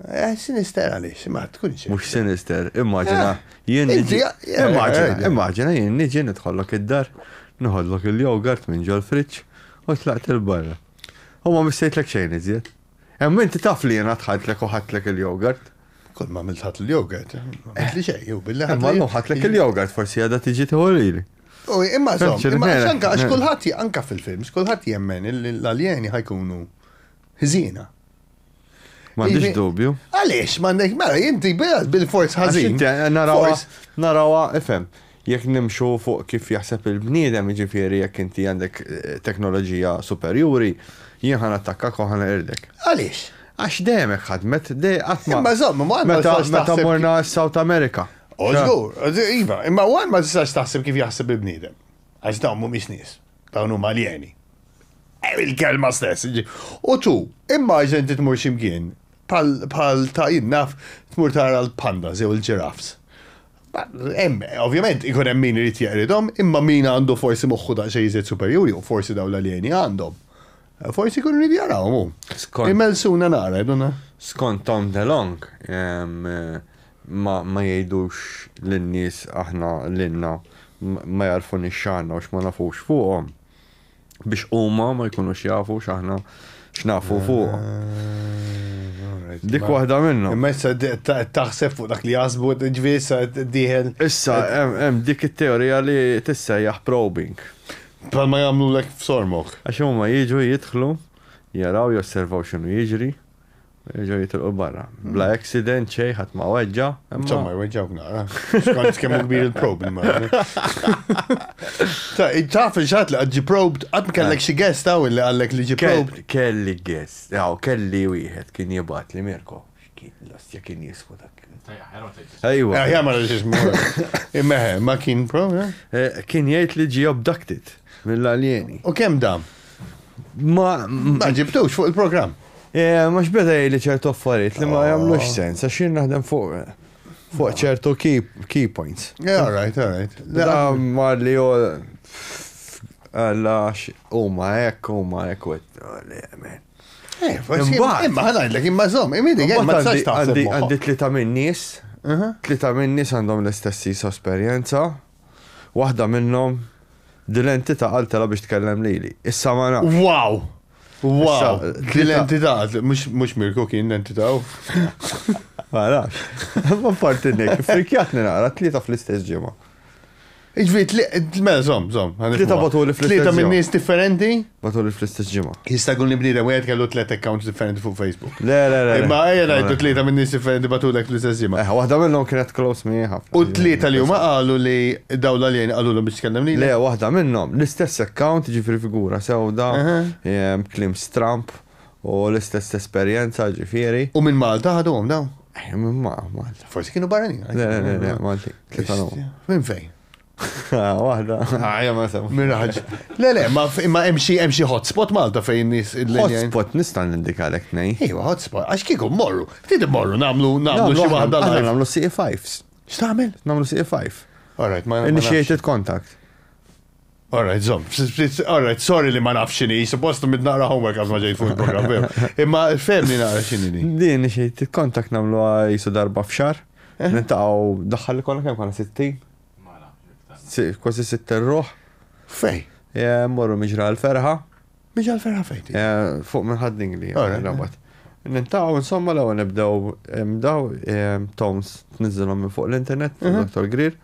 Eh, sinister għaliex, ma tkunx. Mux sinister, immaġina, eh, jien niġi. Eh, immaġina, eh, immaġina, jien niġi nidħollok id-dar, nħollok il-jogurt minn ġol friċ, u tlaqt il-barra. U ma missejtlek xejn iżjed. Hemm inti taf li jien tħadlek u ħadlek il-jogurt. Kol ma milħat il-jogurt, li xej, jew billi ħadlek. Ma ħadlek il-jogurt, forsi għadha tiġi teorili. U imma zom, imma xanka, għax kullħat anka fil-films, kullħat jemmen l-aljeni ħajkunu ħżina. M'għandix dubju. Għaliex m'għandek mela inti bil-forz ħażin. Narawa, narawa, ifhem. Jekk nimxu fuq kif jaħseb il-bniedem, jiġifieri jekk inti għandek eh, teknoloġija superjuri, jien ħan attakkak u ħan irdek. Għaliex? Għax dejjem ħadmet, dejjem qatt ma. Imma żomm, ma meta meta morna South America. Ożgur, iva, imma għan ma tistax taħseb kif jaħseb il-bniedem. Għax dawn mhumiex nies. Dawn huma aljeni. Eh, il-kelma stess. U tu, immaġin inti tmur ximkien bħal ta' jinnaf tmur tara l-panda zew il-ġiraffs. Ovvjament, ikun hemm min irid jeqridhom, imma min għandu forsi moħħu da' xejn iżjed superjuri u forsi daw l-aljeni għandhom. Eh, forsi kun rrid jarawhom. Imelsuna nara, jduna. Skont Tom DeLong, eh, Ma ma jgħidux lin-nies aħna lilna ma jagħrfunix x'għandna u x'ma nafux fuqhom biex huma ma jkunux jafu x'aħna x'nafu fuqhom. Dik waħda minnhom. Imma issa taħseb fuq dak li jaħsbu ġifieri issa dieħel. Issa hemm dik it-teorija li tissejjaħ probing. Bħalma jagħmlulek f'sormok. Għax huma jiġu jidħlu, jaraw, josservaw x'inhu jiġri, Ġew jitilqu l-barra. Bla accident xej ħadd ma weġġa. Insomma jweġġawk nara. Skont kemm kbir il-prob immagini. Taf il-xat li ġi probed, qatt kellek xi guest hawn li qallek li ġi probed. Kelli guest, aw kelli wieħed kien jibgħat li Mirko. X'kien l-ostja kien jismu dak. Ejwa. Ejja ma rridx ismu. Imma ma kien prob. Kien jgħid li ġi abducted mill-aljeni. U kemm dam? Ma ġibtux fuq il-programm. Eh, mux beda jgħidli ċertu affarijiet li ma jagħmlux oh. sens, għax jien naħdem fuq fuq ċertu key points. Yeah, all right, all right. Da mar li jol għalla huma hekk, huma hekk u eh, Imma ħanajdlek imma żomm, imidi għem ma tistax taħseb. Għandi tlita minn nies, uh-huh. tlita minn nies għandhom l-istess esperjenza, waħda minnhom dil-entità għaltela biex tkellem lili. Issa ma nafx. Wow! Wow, l-entità, mux Mirko kien l-entità. Mara, ma parti nek, frikjatni naqra, tlieta fl-istess ġimma. Iġvi, mela, zom, zom. Tlieta batu li fl-istess ġimma. Tlieta minn nis differenti? Batu li fl-istess ġimma. Jista' kun li bnidem, u kellu tliet accounts differenti fuq Facebook. Le, le, le. Imma ejja ngħidu tlieta minn nies differenti batulek fl-istess ġimgħa. Eħa, waħda minnhom kienet close mi ħafna. U tlieta li huma qalu li daw l-aljeni qalulhom biex tkellem lili? Le, waħda minnhom, l-istess account, ġifieri figura sewda, kliem stramb u l-istess esperjenza, ġifieri. U minn Malta ħaduhom dawn? Minn Malta. Forsi kienu barranin. Le, le, le, Maltin. Minn fejn? Waħda. Għajja ma sem. Miraġ. Le, le, ma imma hemm xi hemm xi hotspot Malta fejn nis il-linja. Hotspot nista' nindikalek nej. Ejwa, hotspot, għax kieku morru, ftit morru nagħmlu nagħmlu xi waħda. Għandna nagħmlu CE5s. X'tagħmel? Nagħmlu CE5. Alright, ma Initiated contact. Alright, zom. Alright, sorry li ma nafx xini, suppost mid naqra homework għaz maġej fuq il-program. Imma femni naqra xini li. Din xie, kontak namlu jisu darba fxar. Eh? Nintaw daħħal li konna kem konna 60, Kważi sitt erruħ. Fej? Morru miġra l-ferħa. Miġra l-ferħa fejti? Fuq minn ħadding li. Nintaw, insomma, l għu nibdew daw tones tnizzilhom minn fuq l-internet, mhm. Dr. Greer.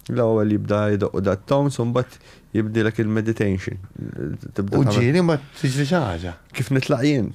l għu jibda jidoqqu dat tones un bat jibdilek il-meditation. Uġġiri ma t-ġri ħaġa. Kif nitlaq jien?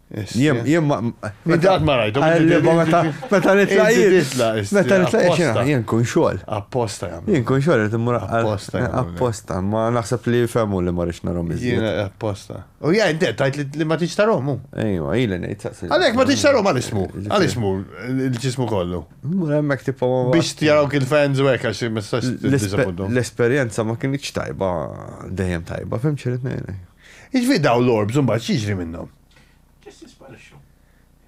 Jien, jien ma. Meta ma rajtu. Meta meta nitlaq jien. Meta nitlaq jien, jien kun xogħol. Apposta jam. Jien kun xogħol qed immur apposta. Apposta, ma naħseb li fehmu li ma rix narhom iżjed. Jien apposta. U ja inti tajt li ma tix tarhom. Ejwa, ili ngħid saqsi. Għalhekk ma tix tarhom għal ismu. Għal ismu l-ġismu kollu. Mur hemmhekk tipo biex tjaraw kien fans u hekk għax ma tistax L-esperjenza ma kienx tajba dejjem tajba, fim ċirid ngħidlek. Jiġifieri dawn l-orbs imbagħad x'jiġri minnhom? Biss jisparixxu.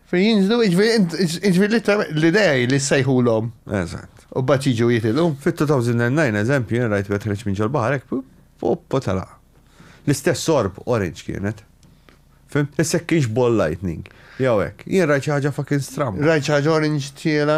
Fejn jinżlu, jiġifieri literalment l-idea hi li ssejħulhom. Eżatt. U mbagħad jiġu jitilqu. Fit-2009 eżempju jien rajt wieħed ħreġ minn ġol-baħar hekk poppo telaq. L-istess orb orange kienet. Fim? Issek kienx ball lightning. Jew hekk. Jien rajt xi ħaġa fucking stramba. Rajt xi ħaġa orange tiela.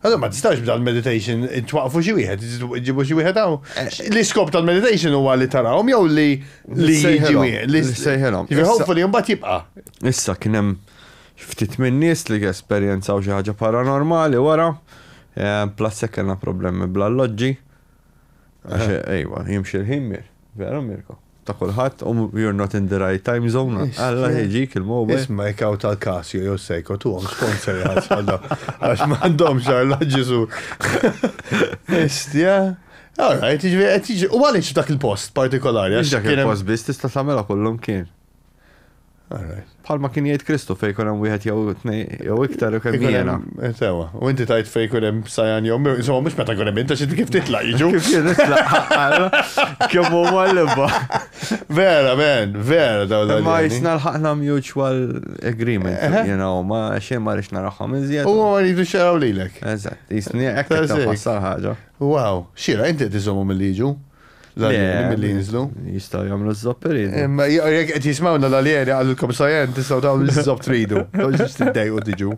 Allora ma tistax b'dan meditation twaqfu xi wieħed, ġibu xi wieħed hawn. Eh. L-iskop tal-meditation huwa li tarahom jew li li jiġi li sejħilhom. Hopefully mbagħad jibqa'. Issa kien hemm ftit minn nies li esperjenzaw xi ħaġa paranormali wara. Eh, plus se kellna problemi bl-alloġġi. Ejwa, jimxi l-ħin mir. Vera Mirko. Ta' kulħadd, um, you're not in the right time zone. Alla ħeġik il-mobile. Isma' jkaw tal-Casio jew Seiko tu għom sponsor jħasħadda. Għax ma għandhom xarla ġisu. Istja. All right, ġvi, u għalix dak il-post partikolari. Dak il-post biss tista' tagħmilha kullum kien. Bħal ma kien jgħid Kristu fej kun hemm wieħed jew tnej jew iktar u kemm jiena. Eh, sewa, u inti tajt fej kun hemm sajan jew insomma mhux meta kun hemm inta xi kif titla' jiġu. Kif jien nitlaq kemm huma l-imba. Vera, men, vera daw dan. Ma jisna l-ħaqna mutual agreement, eh, eh. you know, ma xejn ma rix naraħħom iżjed. U ma rridu xaraw lilek. Eżatt, jisni hekk ħassar ħaġa. Wow, xira, inti tiżomu mill-liġu. l-aljeni mill-li jinżlu. Jistaw jamlu z-zopp iridu. Imma jek qed jismawna l-aljeni għallilkom sajen, tistaw dawn l-zopp tridu. Toġġiġ tiddejqu tiġu.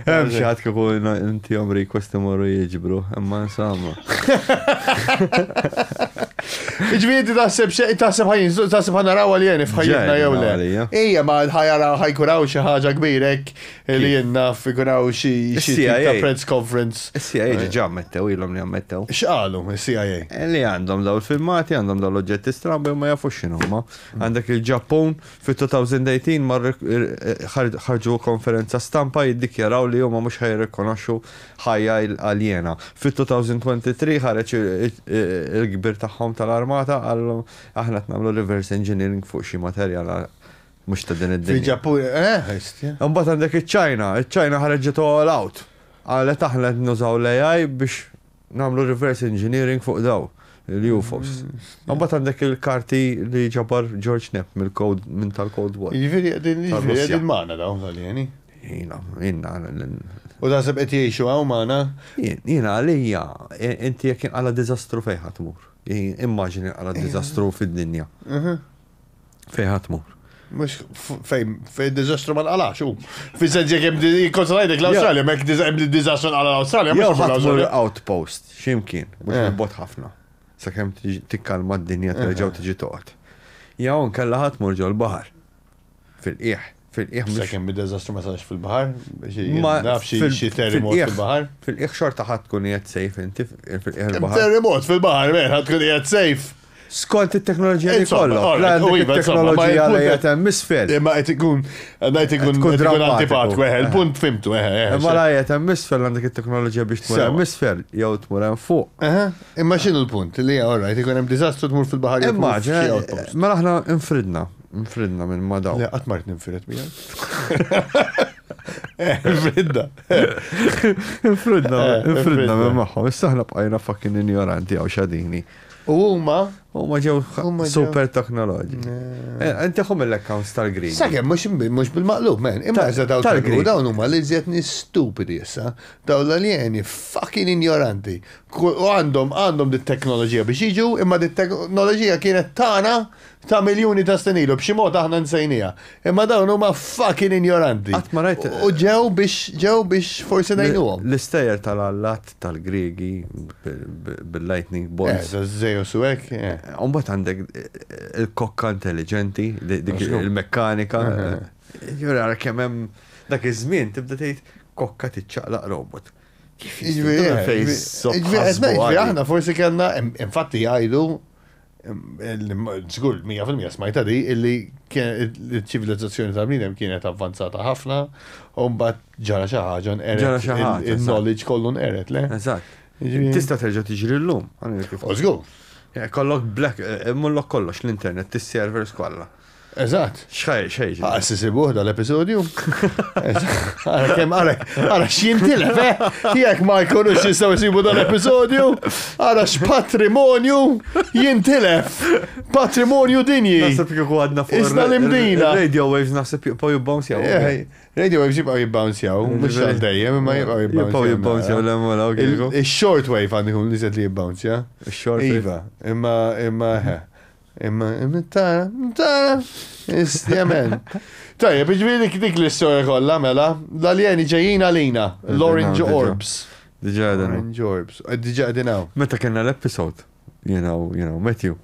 Hemm xi ħadd kieku inti jom request imorru jiġbru, imma insomma. Ġvidi taħseb xejn taħseb ħajn, taħseb ħanaraw għaljeni f'ħajjitna jew le. Ija ma ħajara ħajkuraw xi ħaġa kbirek Illi jenna figuraw xi ta' press conference. CIA ġiġa ammettew, ilhom li ammettew. X'qalu CIA? Li għandhom daw il-filmati, għandhom daw l-oġġetti strambi u ma jafux x'inhuma. Għandek il-Ġappun fit-2018 mar ħarġu konferenza stampa jiddikjaraw li huma mhux ħajrikonoxxu ħajja aljena. Fit-2023 ħareġ il-kbir tagħhom tal-armata qalhom aħna qed nagħmlu reverse engineering fuq xi materjal Mux ta' din id-dinja. Fil-Ġappun, eh, ħistja. Mbagħad għandek iċ-Ċajna, iċ-Ċajna ħarġet all out. Għalet aħna qed nużaw l-AI biex nagħmlu reverse engineering fuq daw il-UFOs. Mm, Mbagħad għandek il-karti li ġabar George Knapp mill-kod minn tal-Cold War. Jiġifieri qegħdin jiġifieri qegħdin magħna dawn tal-jeni. Jina, jina. U da seb qed jgħixu hawn magħna? Jina għalija, inti jekk inqala diżastru fejn ħatmur. Immaġini għala diżastru fid-dinja. Mhm. Fej ħatmur. Mux fej, fej dizastru ma nqalax, u. Fi sens jek jem konsolajtek l-Australia, mek jem dizastru nqala l-Australia, mux ħatmur l-outpost, ximkien, mux eh. bot ħafna. Sakem tikkalma d-dinja terġaw eh. tiġi toqgħod. Jaw nkella ħatmur ġol-bahar. Fil-qieħ. Fil-qiegħ mhux. Sakemm id-deżastru ma sarx fil-baħar, naf xi terremot fil-baħar. Fil-qiegħ xorta ħadd tkun qiegħed sejf inti fil-qiegħ il-baħar. Terremot fil-baħar, mer ħadd tkun qiegħed sejf. Skont it-teknoloġija li kollok. Il-teknoloġija li qed hemm isfel. Imma qed ikun ngħid ikun tkun antipat weħe, il-punt fimtu weħe. Imma la qed hemm isfel għandek it-teknoloġija biex tmur hemm isfel jew tmur hemm fuq. Imma x'inhu l-punt li all right ikun hemm diżastru tmur fil-baħar jew. Immaġina, mela aħna infridna Nfridna minn ma daw. Le, qatt mart ninfired miegħek. Eh, Fridda. Nfridna, Eh, nfridna nfridna. minn magħhom. Issa aħna bqajna fucking injoranti għaw xadini. U huma Huma ġew Huma ġew- super teknoloġi. Inti ħom l-accounts tal-Green. Sakemm mhux imbi- mhux bil-maqlub, man. Imma Tal- iżda daw tal-Grik. tal-Grik. Dawn huma li żjed nies stupidi issa. Dawn l-aljeni fucking ignoranti. Ku- U għandhom għandhom dit-teknoloġija biex jiġu, imma dit-teknoloġija kienet tagħna ta' miljuni ta' snin ilu, b'xi mod aħna nsejnieha. Imma dawn huma fucking injoranti. Qatt ma rajt. U ġew biex ġew biex forsi ngħinuhom. L-istejjer tal-allat tal-Griegi bil-lightning bolts. Eh, Zeus u hekk. U mbagħad għandek il-kokka intelliġenti, dik il-mekkanika. Jiġifieri ara kemm hemm dak iż-żmien tibda tgħid kokka tiċċaqlaq robot. Jiġifieri fejn. Jiġifieri aħna forsi kellna, infatti jgħidu Zgur, 100% smajta di, illi ċivilizzazzjoni ta' bnidem kienet avvanzata ħafna, u mbagħad ġara xi ħaġa nqeret. Il-knowledge kollu nqeret, le? Eżatt. Tista' terġa' tiġri llum. Zgur. Kollok black, eh, mullok kollox l-internet, tis-servers kollha. Eżatt. Xħaj, xħaj. Għara s-sisibuħ dal-episodju. Għara kem, għara, għara xintilef, eh? Jek ma jkunux jistaw jisibu dal-episodju, għara x-patrimonju jintilef. Patrimonju dinji. Nasib kieku għadna fuq. Isna l-imdina. Radio waves nasib jibqaw jibbonsjaw. Eh, radio waves jibqaw jibbonsjaw, mux għal dejjem, ma jibqaw jibbonsjaw. Jibqaw jibbonsjaw l-emmola, ok. Il-short wave għandikun li zed li jibbonsja. Il-short wave. Iva, imma, imma, Imma, tara, tara, istjemen. Tajja, bieġviri dik l-istoria kolla, mela, l-aljeni ġejjin għalina, l-Orange Orbs. Diġa għedin. Orange Orbs, eh, diġa għedin għaw. Meta kena l-episod, you know, you know, Matthew.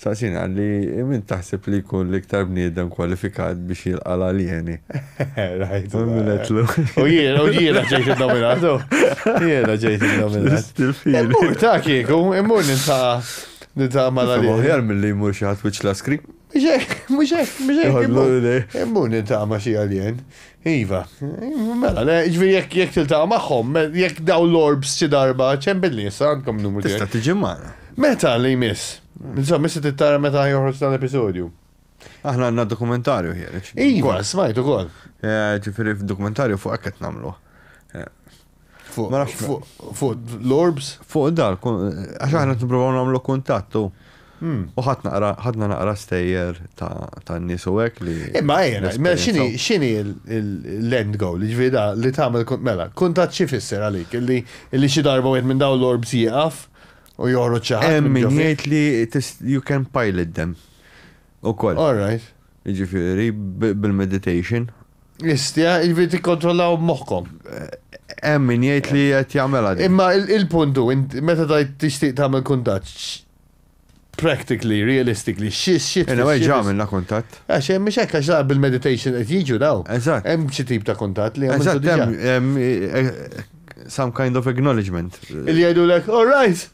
Saqsin għalli, minn taħseb li kun l-iktar bniedem kwalifikat biex jilqa l-aljeni. Rajt. Minetlu. U jiena, u jiena ġejt il-nominatu. Jiena ġejt il-nominatu. Immur ta' kieku, immur ninta' Nitama la li. Aħjar milli jmur xi ħadd wiċċ laskri. Mhux hekk, mhux hekk, mhux hekk. Immur nitama xi alien. Iva. Mela, ġifieri jekk jekk tiltaqa' magħhom, jekk daw l-orbs xi darba, ċem billi issa għandkom numru. Tista' tiġi magħna. Meta li jmiss? Insomma, issa tittara meta joħroġ dan l-episodju. Aħna għandna dokumentarju ħiereġ. Iva, smajtu kol. Ġifieri f'dokumentarju fuq hekk qed nagħmlu. Fuq l-orbs? Fuq dar, għax aħna t-nprovaw namlu kontattu. Hmm. U ħadna naqra stejjer ta' nis u għek li. Imma għajna, mela xini, xini l-end goal, ġvida li tamel, mela, kontat xie fisser għalik, li xie darba għed minn daw l-orbs jieqaf u joħroċ ċaħat. Min jgħid li you can pilot them. U koll. All right. Jiġifieri, bil-meditation. Istja, jiġifieri tikkontrollaw moħħkom. Hemm min jgħid li qed jagħmilha din. Imma il-punt hu, int meta tgħid tixtieq tagħmel kuntatt, practically, realistically, xi tfisser? Anyway, ġa għamilna kuntatt. Għax hemm mhux hekk, għax la bil-meditation qed jiġu dawn. Eżatt. Hemm xi tip ta' kuntatt li għamiltu diġà. Eżatt, hemm some kind of acknowledgement. Li jgħidulek, all right,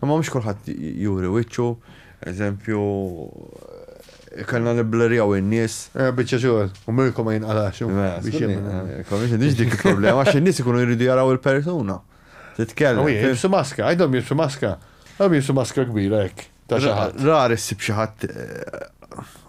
Imma mhux kulħadd juri wiċċu, eżempju, kellna nibblurjaw in-nies. Eh, biċċa xogħol, u mirkom ma jinqalax. Mela, mhix dik il-problema, għax in-nies ikunu jridu jaraw il-persuna. Titkellem. Jibsu maska, għajdhom jibsu maska. Għajdhom jibsu maska kbira hekk. Rari ssib xi ħadd eh,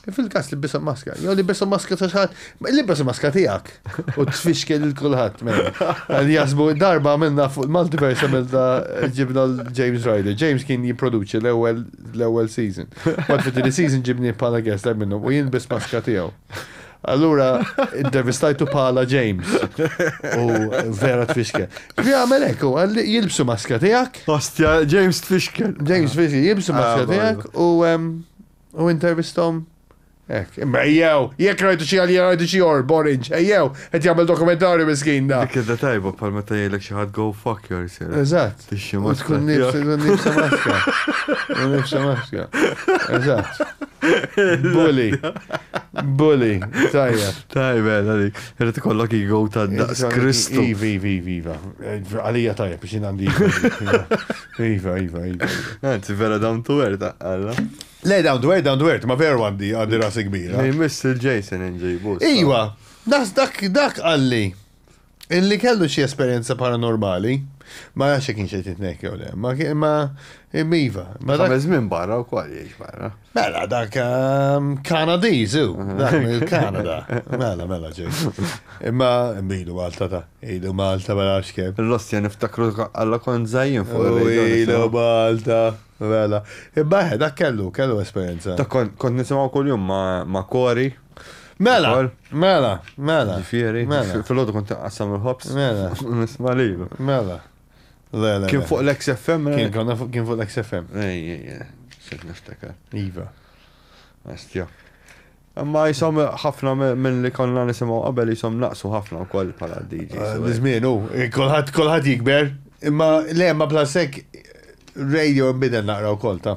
Fil-kas li bisom maska, jew li bisom maska ta' xaħat, li bisom maska tijak, u t-fixkel il-kulħat, għal jasbu darba għamilna fuq il-multiverse għamilna ġibna l-James Ryder. James kien jiproduċi l-ewel season. Għad fit season ġibni pala guest għal minnu, u jien bis maska tijaw. Allura, intervistajtu pala James. U vera t-fixkel. Vi għamel ekku, għalli jilbsu maska tijak. Ostja, James t-fixkel. James t-fixkel, jilbsu maska ah, tijak, u U intervistom? Ek, imma ejjew, jekk rajtu xi għalija rajtu xi or, borinġ, ejjew, qed jagħmel dokumentarju miskin da. Dik idda tajba bħal meta jgħidlek xi ħadd go fuck yourself. Eżatt. Tixxi ma tkun nifsa nifsa maska. Nifsa maska. Eżatt. Bully. Bully. Tajja. Tajba, għali. Irrid ikollok ego ta' daqs Kristu. Iva, iva, iva. Għalija tajja biex jien għandi. Iva, iva, iva. Anzi, vera down to earth, għalla. Le, down to earth, down to earth, ma veru għandi għandi rasi kbira. Li miss il-Jason inġibu. Iva, nas dak dak għalli. Illi kellu xi esperjenza paranormali. Ma nafx jekk kienx qed jitnek jew le, ma kien ma iva. Ma dak żmien barra wkoll jgħix barra. Mela, dak ehm, Kanadiz, u, dak il-Kanada. Mela, mela, ġej. Imma, mbidu Malta ta' ilu Malta mela xkem. L-ostja niftakru għalla kon zajin fuq. U ilu Malta, mela. Imma, eh, dak kellu, kellu esperienza. Dak kont nisimaw kol jum ma' kori. Mela, mela, mela. Ġifiri, mela. fil-ħodu kont għassam il-ħobs. Mela. Nisma lilu. Mela. Le, le. Kien fuq l-XFM? Kien konna fuq kien fuq l-XFM. Ej, ej, ej. Sejt niftakar. Iva. Astja. Imma jisom ħafna minn li konna nisimaw qabel jisom naqsu ħafna u koll pala DJs. Ah, Nizmin, u, kolħat, kolħat jikber. Imma, le, ma blasek radio imbidel naqra u koll, ta'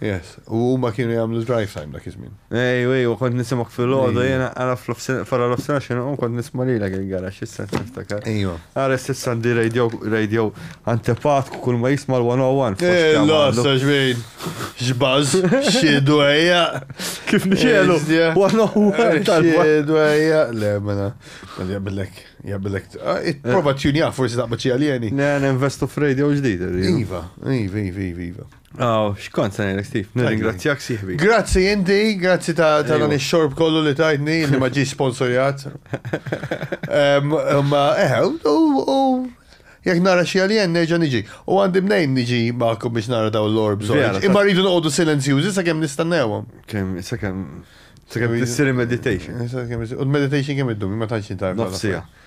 Yes, u huma kienu jagħmlu drive time dak iż-żmien. Ej, ej, u kont nisimgħek fil-għodu jiena ara fara l-ofsena x'inhu u kont nisma' lilek il-garax issa niftakar. Ejwa. Ara s'issa għandi radio radio antepat kull ma jisma' l-101. Ella, sa xbejn. Xbaż, xiedu ejja. Kif nixelu? 101 tal-għodu. Xiedu ejja, le mela. Jabillek, jabillek. Prova tjunja forsi taqbad xi aljeni. Ne, investu f'radio ġdid. Iva, iva, iva, iva. Oh, xkont se ngħidlek Steve, nirringrazzjak sieħbi. Grazzi inti, grazzi ta' ta' dan ix-xorb kollu li tajtni li ma ġiex sponsorjat. Em, Ma eh, u u jekk nara xi alien nerġa' niġi. U għandi mnejn niġi magħkom biex nara daw l-orbs. Vera, orange. ta- Imma rridu noqogħdu silenzjużi sakemm nistennewhom. Kemm, sakemm, sakemm tissir meditation. U l-meditation kemm iddum, ma tantx intajb. Nofsija.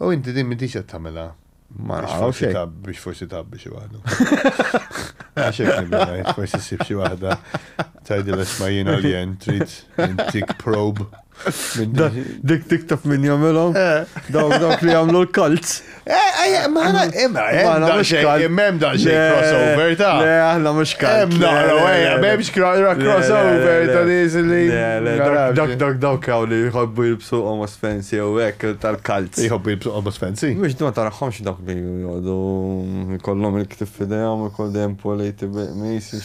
U inti din m'intix qed tagħmilha. Ma nafx hekk. Biex forsi tabbi xi waħda. Għax hekk nibda forsi ssib xi waħda tgħidilha isma' jien għaljen trid intik probe. Dik TikTok min jagħmilhom? Eh. Dawk dawk li jagħmlu l-kalz. Eh, eh, ma ħana imma ħana mhux kalz. Imma hemm dan xejn crossover ta'. Le aħna mhux kalz. Hemm naqra ejja, m'hemmx crossover ta' nies li. Dak dak dawk hawn li jħobbu jilbsu omos fejn Jew hekk tal-kalz. Iħobbu jilbsu qobos fancy. Mhux ma tarahomx dawk li jqogħdu jkollhom il-ktieb f'idejhom ikun dejjem politi bil-qmis.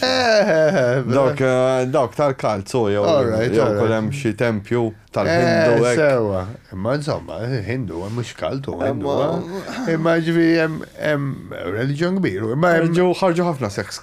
Dawk dawk tal-kalz hu jew jew ukoll hemm xi tempju tal-Hindu hekk. Eh sewwa. Imma insomma, Hindu mhux kalt hu Hindu. Imma jiġifieri hemm hemm reliġjon kbir. Imma hemm Ħarġu ħafna sex